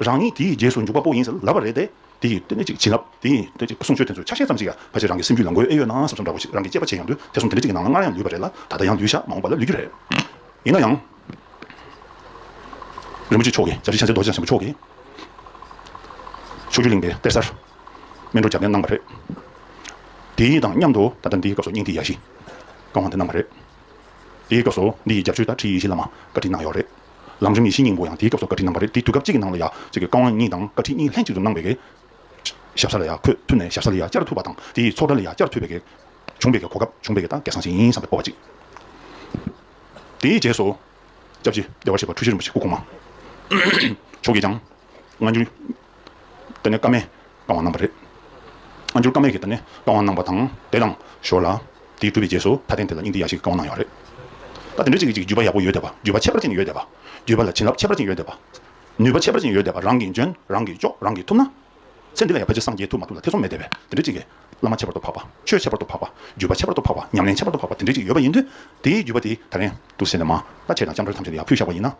རང་ཉིད་དེའི་རྗེས་སུ་འཇུག་པ་པོ་ཡིན་ཟེར་ལབ་པ་རེད་དེ། དེ་ཡིས་དེ་འདྲ་ཅིག་བྱིན་རླབས་དེ་ཡིས་དེ་འདྲ་ཅིག་གསུང་ཆོས་དེ་ཚོའི་ཆ་ཤས་ཙམ་ཞིག་ཡང་ཕལ་ཆེར་རང་གི་སེམས་རྒྱུད་ལ་འགོས་ཨེ་ཡོད་ན་བསམ་བསམ་འདྲ་བོ་ཞིག་རང་གི་སྐྱེས་པ་ཆེས་ཡང་དུས་དེ་གསུམ་དེ་འདྲ་ཅིག་གི་ནང་ལ་སྔར་ཡང་ལུས་པ་རེད་ལ་ད་ལྟ་ཡང་ལུས་ཤག་མ་འོངས་པ་ལ་ལུས་རྒྱུ་རེད། ཡིན་ན་ཡང། རིན་པོ་ཆེ་མཆོག་གིས་ཞབས་ཕྱི་ཤར་ཚད་རྡོ་རྗེ་འཆང་ཆེན་པོ་མཆོག་གིས། ཕྱོགས་བཅུ་གླིང་པའི་གཏེར་གསར་སྨིན་གྲོལ་སྦྱར་མཁན་གནང་བ་རེད། དེའི་དང་མཉམ་དུ་ད་ལྟ་འདིའི་སྐབས་སུ་སྙིང་ཐིག་ཡ་བཞི་བཀའ་དབང་དེ་གནང་བ་རེད། དེའི་སྐབས་སུ་འདི་ཡི་རྒྱབ་ཆོས་ཟླ་བྲིས་ཡེ་ཤེས་བླ་མ་བཀའ་དྲིན་གནང་ཡོད་རེད། ལམ་རིམ་ཡེ་ཤེས་སྙིང་པོ་ཡང་དེའི་སྐབས་སུ་བཀའ་ཁྲི་གནང་བ་རེད་དེ་དུས་སྐབས་གཅིག་གི་ནང་ལ་ཡ་གཅིག་གི་བཀའ་དབང་གཉིས་དང་བཀའ་ཁྲི་གཉིས་ལྷན་ཅིག་ཏུ་གནང་བའི་གེགས། ཞབས་ས་ལ་ཡ་ཁོས་མཐུད་ནས་ཞབས་ས་ལ་ཡ་བསྐྱར་ཐུབ་པ་དང་དེ་ཡིས་ཚོགས་གྲལ་ལ་ཡ་བསྐྱར་ཐུབ་པའི་གེགས། བྱུང་བའི་གེགས་གོ་སྐབས་བྱུང་བའི་གེགས་ད་གེགས་སང་ཞིག་ཡིན་བསམ་པའི་སྤོབས་པ་གཅིག། དེའི་རྗེས་སུ། སྐྱབས་རྗེ་རྒྱལ་བ་ཆེ་བ་ཁྲུ་བཞི་རིན་པོ་ཆེ་སྐུ་གོང་མ། མཆོག་གིས་ཀྱང། སྔ་འགྱུར། དེ་ནི་ཀ་མའི་རྐང་བ་རྣམ་པ་རེད། ཨ་འགྱུར་ཀ་མའི་གི་དེ་ནི་རྐང་བ་རྣམ་པ་དང་དེ་དང་ཞོར་ལ། དེའི་གྲུབ་པའི་རྗེས་སུ་མཐའ་རྟེན་དེ་ལ་སྙིང་ཏིག་ཡ་ཞིག་གི་རྐང་བ་གནང་ཡོད་རེད། ད་དེ་འདྲ་ཅིག་གི་ཅིག་བརྒྱུད་པ་ཡག་པོ་ཡོད་འདོད་པ་བརྒྱུད་པ་ཁྱད་པར་ཅན་ཡོད་འདོད་པ་བརྒྱུད་པ་ལ་བྱིན་རླབས་ཁྱད་པར་ཅན་ཡོད་འདོད་པ། ནུས་པ་ཁྱད་པར་ཅན་ཡོད་འདོད་པ་རང་གིས་འཇོན་རང་གིས་ལྕོགས་རང་གིས་ཐུབ་ན། ཚེ་འདི་ལ་ཡང་ཕལ་ཆེར་སངས་རྒྱས་ཐུབ་མ་ཐུབ་ལ་ཐེ་ཚོམ་མེད་འདོད་པས་དེ་འདྲ་ཅིག་གི། བླ་མ་ཁྱད་པར་དུ་འཕགས་པ་ཆོས་ཁྱད་པར་དུ་འཕགས་པ་བརྒྱུད་པ་ཁྱད་པར་དུ་འཕགས་པ་ཉམས་ལེན་ཁྱད་པར་དུ་འཕགས་པ་དེ་འདྲ་ཅིག་ཡོད་པ་ཡིན་དུས། དེའི་བརྒྱུད་པ་དེའི་ད་རན་དུ་སེམས་ལ་མ་ལ་ཆས་དང་ལྕམ་དྲལ་ཐམས་ཅད་དུ་ཡང་ཕུལ་བཞག་པ་ཡིན་ན།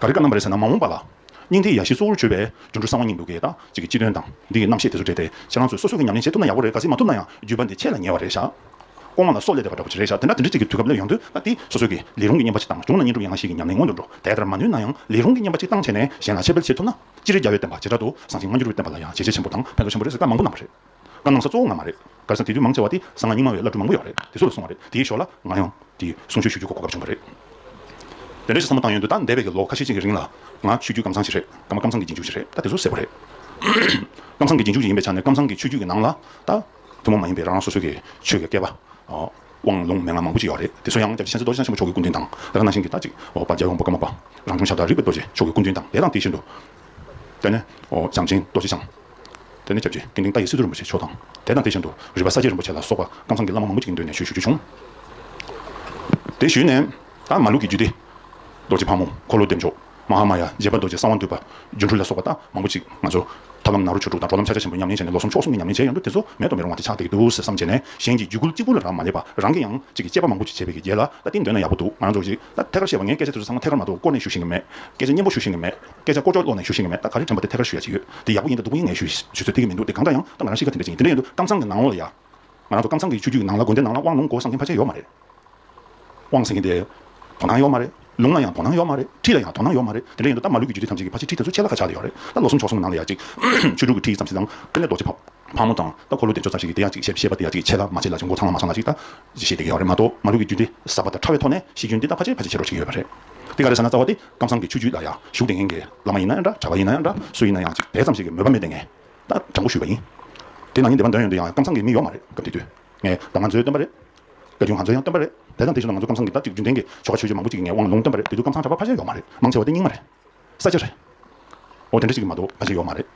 ག་རེ་བཀའ་གནང་བ་རེད་ཟེར་ན་མ་འོངས་པ་ལ། སྙིང་ཐིག་ཡ་བཞི་གཙོ་བོར་བརྗོད་པའི་སྒྱུ་འཕྲུལ་གསང་བ་གཉིས་འདུག་གི་ད་ཅིག་གི་སྤྱི་དོན་དང་འདི་ཡི་རྣམ་བཤད་དེ་ཚོ་འདྲེས་ཏེ་ཁྱེད་རང་ཚོས་སོ་སོ་གི་ཉམས་ལེན་བྱེད་ཐུབ་ན་ཡག་པོ་རེད་ག་ཟེ་མ་ཐུབ་ན་ཡང་བརྒྱུད་པ་འདི་ཁྱེད་ལ་ཉེ་བ་རེད་ཤག། ལྐོག་མ་ལ་སོགས་ལས་འདས་པ་འདྲ་པོ་ཅིག་རེད་ཤག་དེ་འདྲ་དེ་འདྲ་ཅིག་གི་དུས་སྐབས་སླེབས་ཡོང་དུས་ད་འདི་སོ་སོ་གི་ལས་རུང་གི་བསྙེན་པ་ཅིག་བཏང་གཞུང་ལ་བསྙེན་སྒྲུབ་ཡན་ལག་བཞི་གི་ཉམས་ལེན་མངོན་དུ་འགྲོ་དེ་ལྟར་མ་ནུས་ན་ཡང་ལས་རུང་གི་བསྙེན་པ་ཅིག་བཏང་བྱས་ནས་གཞན་ལ་འཆད་སྤེལ་བྱེད་ཐུབ་ན། སྤྱིར་རྒྱ་བོད་བསྟན་པ་བྱེ་བྲག་ཏུ་བཟང་ཞིང་སྔ་འགྱུར་བའི་བསྟན་པ་ལ་ཡང་བྱས་རྗེས་ཆེན་པོ་དང་ཕན་ཐོགས་ཆེན་པོ་རེད་ཟེར་བཀའ་མང་པོ་གནང་བ་རེད། བཀའ་གནང་ས་གཙོ་བོ་ང་མ་རེད། སྒར་ས་དེ་དུས་མང་ཆེ་བ་དེ་ས་ང་རྙིང་མ་བའི་བླ་སྤྲུལ་མང་པོ་ཡོག་རེད་དེ་སུ་ལ་སོང་བ་རེད་དེའི་ཞོར་ལ་ང་ཡང་དེ་གསུང་ཆོས་ཞུ་རྒྱུ་གོ་གོ་སྐབས་བྱུང་བ་རེད། དེ་འདྲ་ཞིག་བསམ་བློ་བཏང་ཡོད་འདུག་ད་འདས་པའི་གི་ལོ་ཁ་ཤས་ཅིག་གི་རིང་ལ་ང་ཆོས་རྒྱུད་ཀམ་ཚང་ཞིག་རེད་ད་མ་ཀམ་ཚང་གི་རྗེས་འཇུག་ཞིག་རེད་ད་དེ་ཚོ་གསལ་པོ་རེད། ཀམ་ཚང་གི་རྗེས་འཇུག་ཞིག་ཡིན་པའི་ཆ་ནས་ཀམ་ཚང་གི་ཆོས་རྒྱུད་ཀྱི་ནང་ལ་ད་ཐུན་མོང་མ་ཡིན་པའི་རང་རང་སོ་སོའི་གི་ཆོས་ཀྱི་སྐལ་པ། དབང་ལུང་མན་ངག་མང་པོ་ཅིག་ཡོག་རེད་དེ་ཚོ་ཡང་སྐྱབས་རྗེ་མཁྱེན་བརྩེ་རྡོ་རྗེ་འཆང་ཆེན་པོ་མཆོག་གི་སྐུ་མདུན་དང་ད་ག་ནང་བཞིན་གི་ད་ཅིག་འོག་པ་རྒྱལ་ཡོངས་པ་ཀམ་པ་པ་རང་བྱུང་ཞབས་དར་རིག་པའི་རྡོ་རྗེ་མཆོག་གི་སྐུ་མདུན་དང་དེ་དང་དེ་བཞིན་དུ་དེ་ནས་ཞང་ཆེན་རྡོ་རྗེ་འཆང། དེ་ནས་སྐྱབས་རྗེ་དགེ་འདུན་ཏཱ་ཡེ་བསིལ་རྡོ་རིན་པོ་ཆེ་མཆོག་དང་དེ་དང་དེ་བཞིན་དུ་རི་བ་ས་སྐྱའི་རིན་པོ་ཆེ་ལ་སོགས་པ་ཀམ་ཚང་གི་བླ་མ་མང་པོ་ཅིག་མདུན་ནས་ཞུས་ཞུ་རྒྱུ་བྱུང། དེ་ཞུས་ནས་ད་མ་ལུག་གི་རྒྱུད་སྡེ། རྡོ་རྗེ་ཕག་མོ་འཁོར་ལོ་བདེ་མཆོག་མ་ཧཱ་མ་ཡ་རྗེ་དཔལ་རྡོ་རྗེ་གསང་བ་འདུས་པ་སྒྱུ་འཕྲུལ་ལ་སོགས་པ་ད་མང་པོ་ཅིག་ང་ཚོ། ཐབས་ལམ་ནཱ་རོ་ཆོས་དྲུག་དང་འགྲོ་ལམ་ཕྱག་རྒྱ་ཆེན་པོ་ཉམས་ལེན་བྱས་ནས་ལོ་སུམ་ཕྱོགས་གསུམ་གྱི་ཉམས་ལེན་བྱས་ཡོང་དུས་དེ་ཚོ་མེད་དོ་མི་རུང་བ་དེ་ཆགས་བསྡད་ཀྱི་འདུག་ཟེར་བསམ་བྱས་ནས་གཞན་གྱི་རྒྱུད་གུར་གཅིག་པུ་ལ་རག་མ་ལས་པ་རང་གི་ཡང་ཅིག་གི་དཔྱད་པ་མང་པོ་ཅིག་བྱས་པའི་གི་རྗེས་ལ་ད་དེ་འདོན་ན་ཡག་པོ་འདུག་ང་རང་ཚོ་གཞིག་ད་ཐད་ཀར་བཤད་པ་ངས་སྐད་ཆ་དེ་ཚོ་ཚང་མ་ཐད་ཀར་མ་གཏོགས་བསྐོར་ནས་ཞུ་ཤེས་ཀྱི་མེད་སྐད་ཆ་སྙན་པོ་ཞུ་ཤེས་ཀྱི་མེད། སྐད་ཆ་ཀོ་ཅོ་ཀློག་ནས་ཞུ་ཤེས་ཀྱི་མེད་ད་ག་རེ་དྲན་པ་དེ་ཐད་ཀར་ཞུ་ཡ་ཅི་ཡོད་དེ་ཡག་པོ་ཡིན་དང་སྡུག་པོ་ཡིན་ངས་ཞུ་ཞུ་ཚོད་ཐིག་གི་མི་འདུག་དེ་གང་འདྲ་ཡང་ད་ང་རང་ཤེས་ཀ་དེ་འདྲ་ཅིག་ཡིན་དེ་འདྲ་ཡིན་དུ་ཀམ་ཚང་གི་ནང་ལོགས་ལ་ཡ། ང་རང་ཚོ་ཀམ་ཚང་གི་ཆུ་རྒྱུད་ཀྱི་ནང་ལ་དགོན་སྡེ་ནང་ལ་དབང་ལུང་གོ་ས་མཁན་ཕ་ཆེ་ཡོད་མ་རེད། དབང་ཟེར་མཁན་དེ། དོ་སྣང་ཡོད་མ་རེད། ལུང་ལ་ཡང་དོ་སྣང་ཡོད་མ་རེད། ཁྲིད་ལ་ཡང་དོ་སྣང་ཡོད་མ་རེད་དེ་འདྲ་ཡིན་དུ་ད་མ་ལུས་ཀྱི་རྒྱུད་སྡེ་ཐམས་ཅད་ཀྱི་ཕ་ཆེ་ཁྲིད་དེ་ཚོ་ཆད་ལ་ཁ་ཆག་གི་ཡོད་རེད་ད་ལོ་གསུམ་ཕྱོགས་གསུམ་གི་ནང་ལ་ཡ་ཅིག། ཆོས་དྲུག་གི་ཁྲིད་ཙམ་ཞིག་དང་དཀོན་ལས་རྡོ་རྗེ་ཕག་ཕག་མོ་དང་ད་འཁོར་ལོ་བདེ་མཆོག་ཙམ་ཞིག་གི་དེ་ཡ་ཅིག་བཤད་པ་དེ་ཡ་ཅིག་ཆད་ལ་མ་ཆད་ལ་ཅིག་མགོ་ཚང་ལ་མ་ཚང་ལ་ཅིག་ད་ཅིག་བཤད་དེ་གི་ཡོད་རེད་མ་གཏོགས་མ་ལུས་ཀྱི་རྒྱུད་སྡེ་ཟབ་པ་དང་ཕྲ་བའི་ཐོག་ནས་ཤེས་རྒྱུན་དེ་ད་ཕ་ཆེ་ཕ་ཆེ་ཆེ་རོ་ཅིག་ཡོད་པ་རེད་དེ་ག་རེ་ཟེར་ན་རྩ་བ་དེ། ཁམས་བཟང་གི་ཆོས་བརྒྱུད་ལ་ཡང་ཞུགས་དེ་ངན་གྱི་བླ་མ་ཡིན་ན་ཡང་འདྲ་གྲྭ་བ་ཡིན་ན་ཡང་འདྲ་སུ་ཡིན་ན་ཡང་ཅིག་དེ་ཙམ་ཞིག་གི་མོས་པ་མེད་དེ་ངས་ད་དྲང་པོ་ཞུས་པ་ཡིན། དེས་ན་ཉིན་དེ་པ་འདོན་ཡོན་དུ་ཡང་ཁམས་བཟང་གི་མིག་ཡོག་མ་རེད་སྐབས་དེ་དུས་ངས་ད་ང་ཚོའི་སྟོན་པ་རེད་སྐད་ཆུང་ང་ཚོའི་ཡང་སྟོན་པ་རེད་དེ་དང་དེ་བཞིན་དུ་ང་ཚོ་ཁམས་བཟང་གི་ད་ཅིག་རྒྱུན་ལྡན་གྱི་ཆོ་ག་ཆོས་བརྒྱུད་མང་པོ་ཅིག་གི་ངས་དབང་ལུང་སྟོན་པ་རེད་དེ་དུས་ཁམས་བཟང་གྲྭ་བ་ཕ་ཤེལ་ཡོག་མ་རེད་མང་ཆེ་བ་དེ་རྙིང་མ་རེད་ས་སྐྱ་རེད། འོ་དེ་འདྲ་ཞིག་གི་མ་གཏོགས་ཕ་ཤེལ་ཡོག་མ་རེད།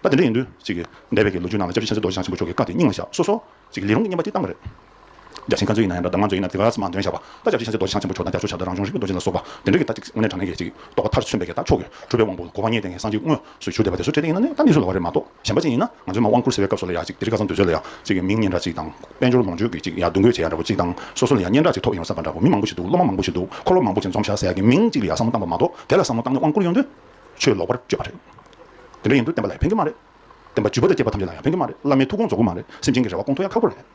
ད་དེ་འདྲ་ཡིན་དུས་ཅིག་གི་འདས་པའི་གི་ལོ་རྒྱུས་ནང་ལ་ལྕགས་ཀྱི་ཆེན་སྲིད་རྡོ་རྗེ་འཆང་ཆེན་པོ་མཆོག་གི་བཀའ་དེ་རྙིང་མ་བཞག་སོ་སོ་ཅིག་གི་ལས་རུང་རྙེད་པ་དེ་བཏང་པ་རེད། བརྒྱ་བྱིན་ཁ་མཆུ་ཡིན་ན་ཡང་འདྲ་གདམས་ངག་མཆུ་ཡིན་ན་དེ་ག་ས་མ་འདོན་བྱ་བ། ད་བྱབ་ཆེན་ཚེ་རྡོ་རྗེ་འཆང་ཆེན་པོ་མཆོག་དང་རྒྱ་མཆོག་བྱ་བྲལ་རང་བྱུང་རིག་པའི་རྡོ་རྗེ་ལ་སོགས་པ། དེ་འདྲ་གི་ལྟ་ཅི་སྔོན་གྲངས་ངེས་ཀྱི་ཅིག་རྟོགས་པ་མཐར་ཆུད་འབད་ཀྱི་ལྟ་ཕྱོགས་ཀྱི་གྲུབ་པའི་དབང་པོ་གོ་བ་ངེས་ལྡན་གྱི་སངས་རྒྱས་དངོས་སུ་ཞུ་བདེ་བ་དེ་ཚོ་འཕྲད་ཏེ་ཡིན་ན་ནི་གཏན་ནས་ཞུ་ལ་བ་རེད་མ་གཏོགས་གཞན་པ་ཅན་ཡིན་ན་ང་ཚོས་མ་དབང་བསྐུར་ཟེར་བའི་སྐབས་སུ་ལ་ཡ་ཅིག་དེ་རིག་ག་ས་འདོད་ཚོད་ལ་ཡ་ཅིག་གི་མིང་སྙན་གྲགས་ཅིག་དང་དཔལ་འབྱོར་ལོངས་སྤྱོད་ཀྱི་ཅིག་ཡ་བསྡུ་འགོད་བྱེད་ཡ་འདྲ་པོ་ཅིག་དང་སོ་སོ་ལ་ཡ་སྙན་གྲགས་ཅིག་ཐོབ་ཡོང་བསམ་པ་འདྲ་པོ་མི་མང་པོ་ཞིག་འདུག་སློབ་མ་མང་པོ་ཞིག་འདུག་འཁོར་ལོ་མང་པོ་ཅིག་འཛོམས་བྱ་ཟེར་གྱི་མིང་ཅིག་ལ་ཡ་བསམ་བློ་བཏང་པ་མ་གཏོགས་དེ་ལ་བསམ་བློ་བཏང་ནས་དབང་བསྐུར་ཡོང་དུས་ཆོས་ལོག་པར་སྤྱོད་པ་རེད། དེ་འདྲ་ཡིན་དུས་བསྟན་པ་ལ་ཡ་ཕན་གྱི་མ་རེད། བསྟན་པ་བརྒྱུད་པ་དང་བསྐྱེད་པ་ཐམས་ཅད་ལ་ཡ་ཕན་གྱི་མ་རེད་བླ་མའི་ཐུགས་དགོངས་རྫོགས་གི་མ་རེད་སེམས་ཅན་གྱི་རེ་བ་སྐོང་ཐུབ་ཡ་ཁག་པོ་རེད།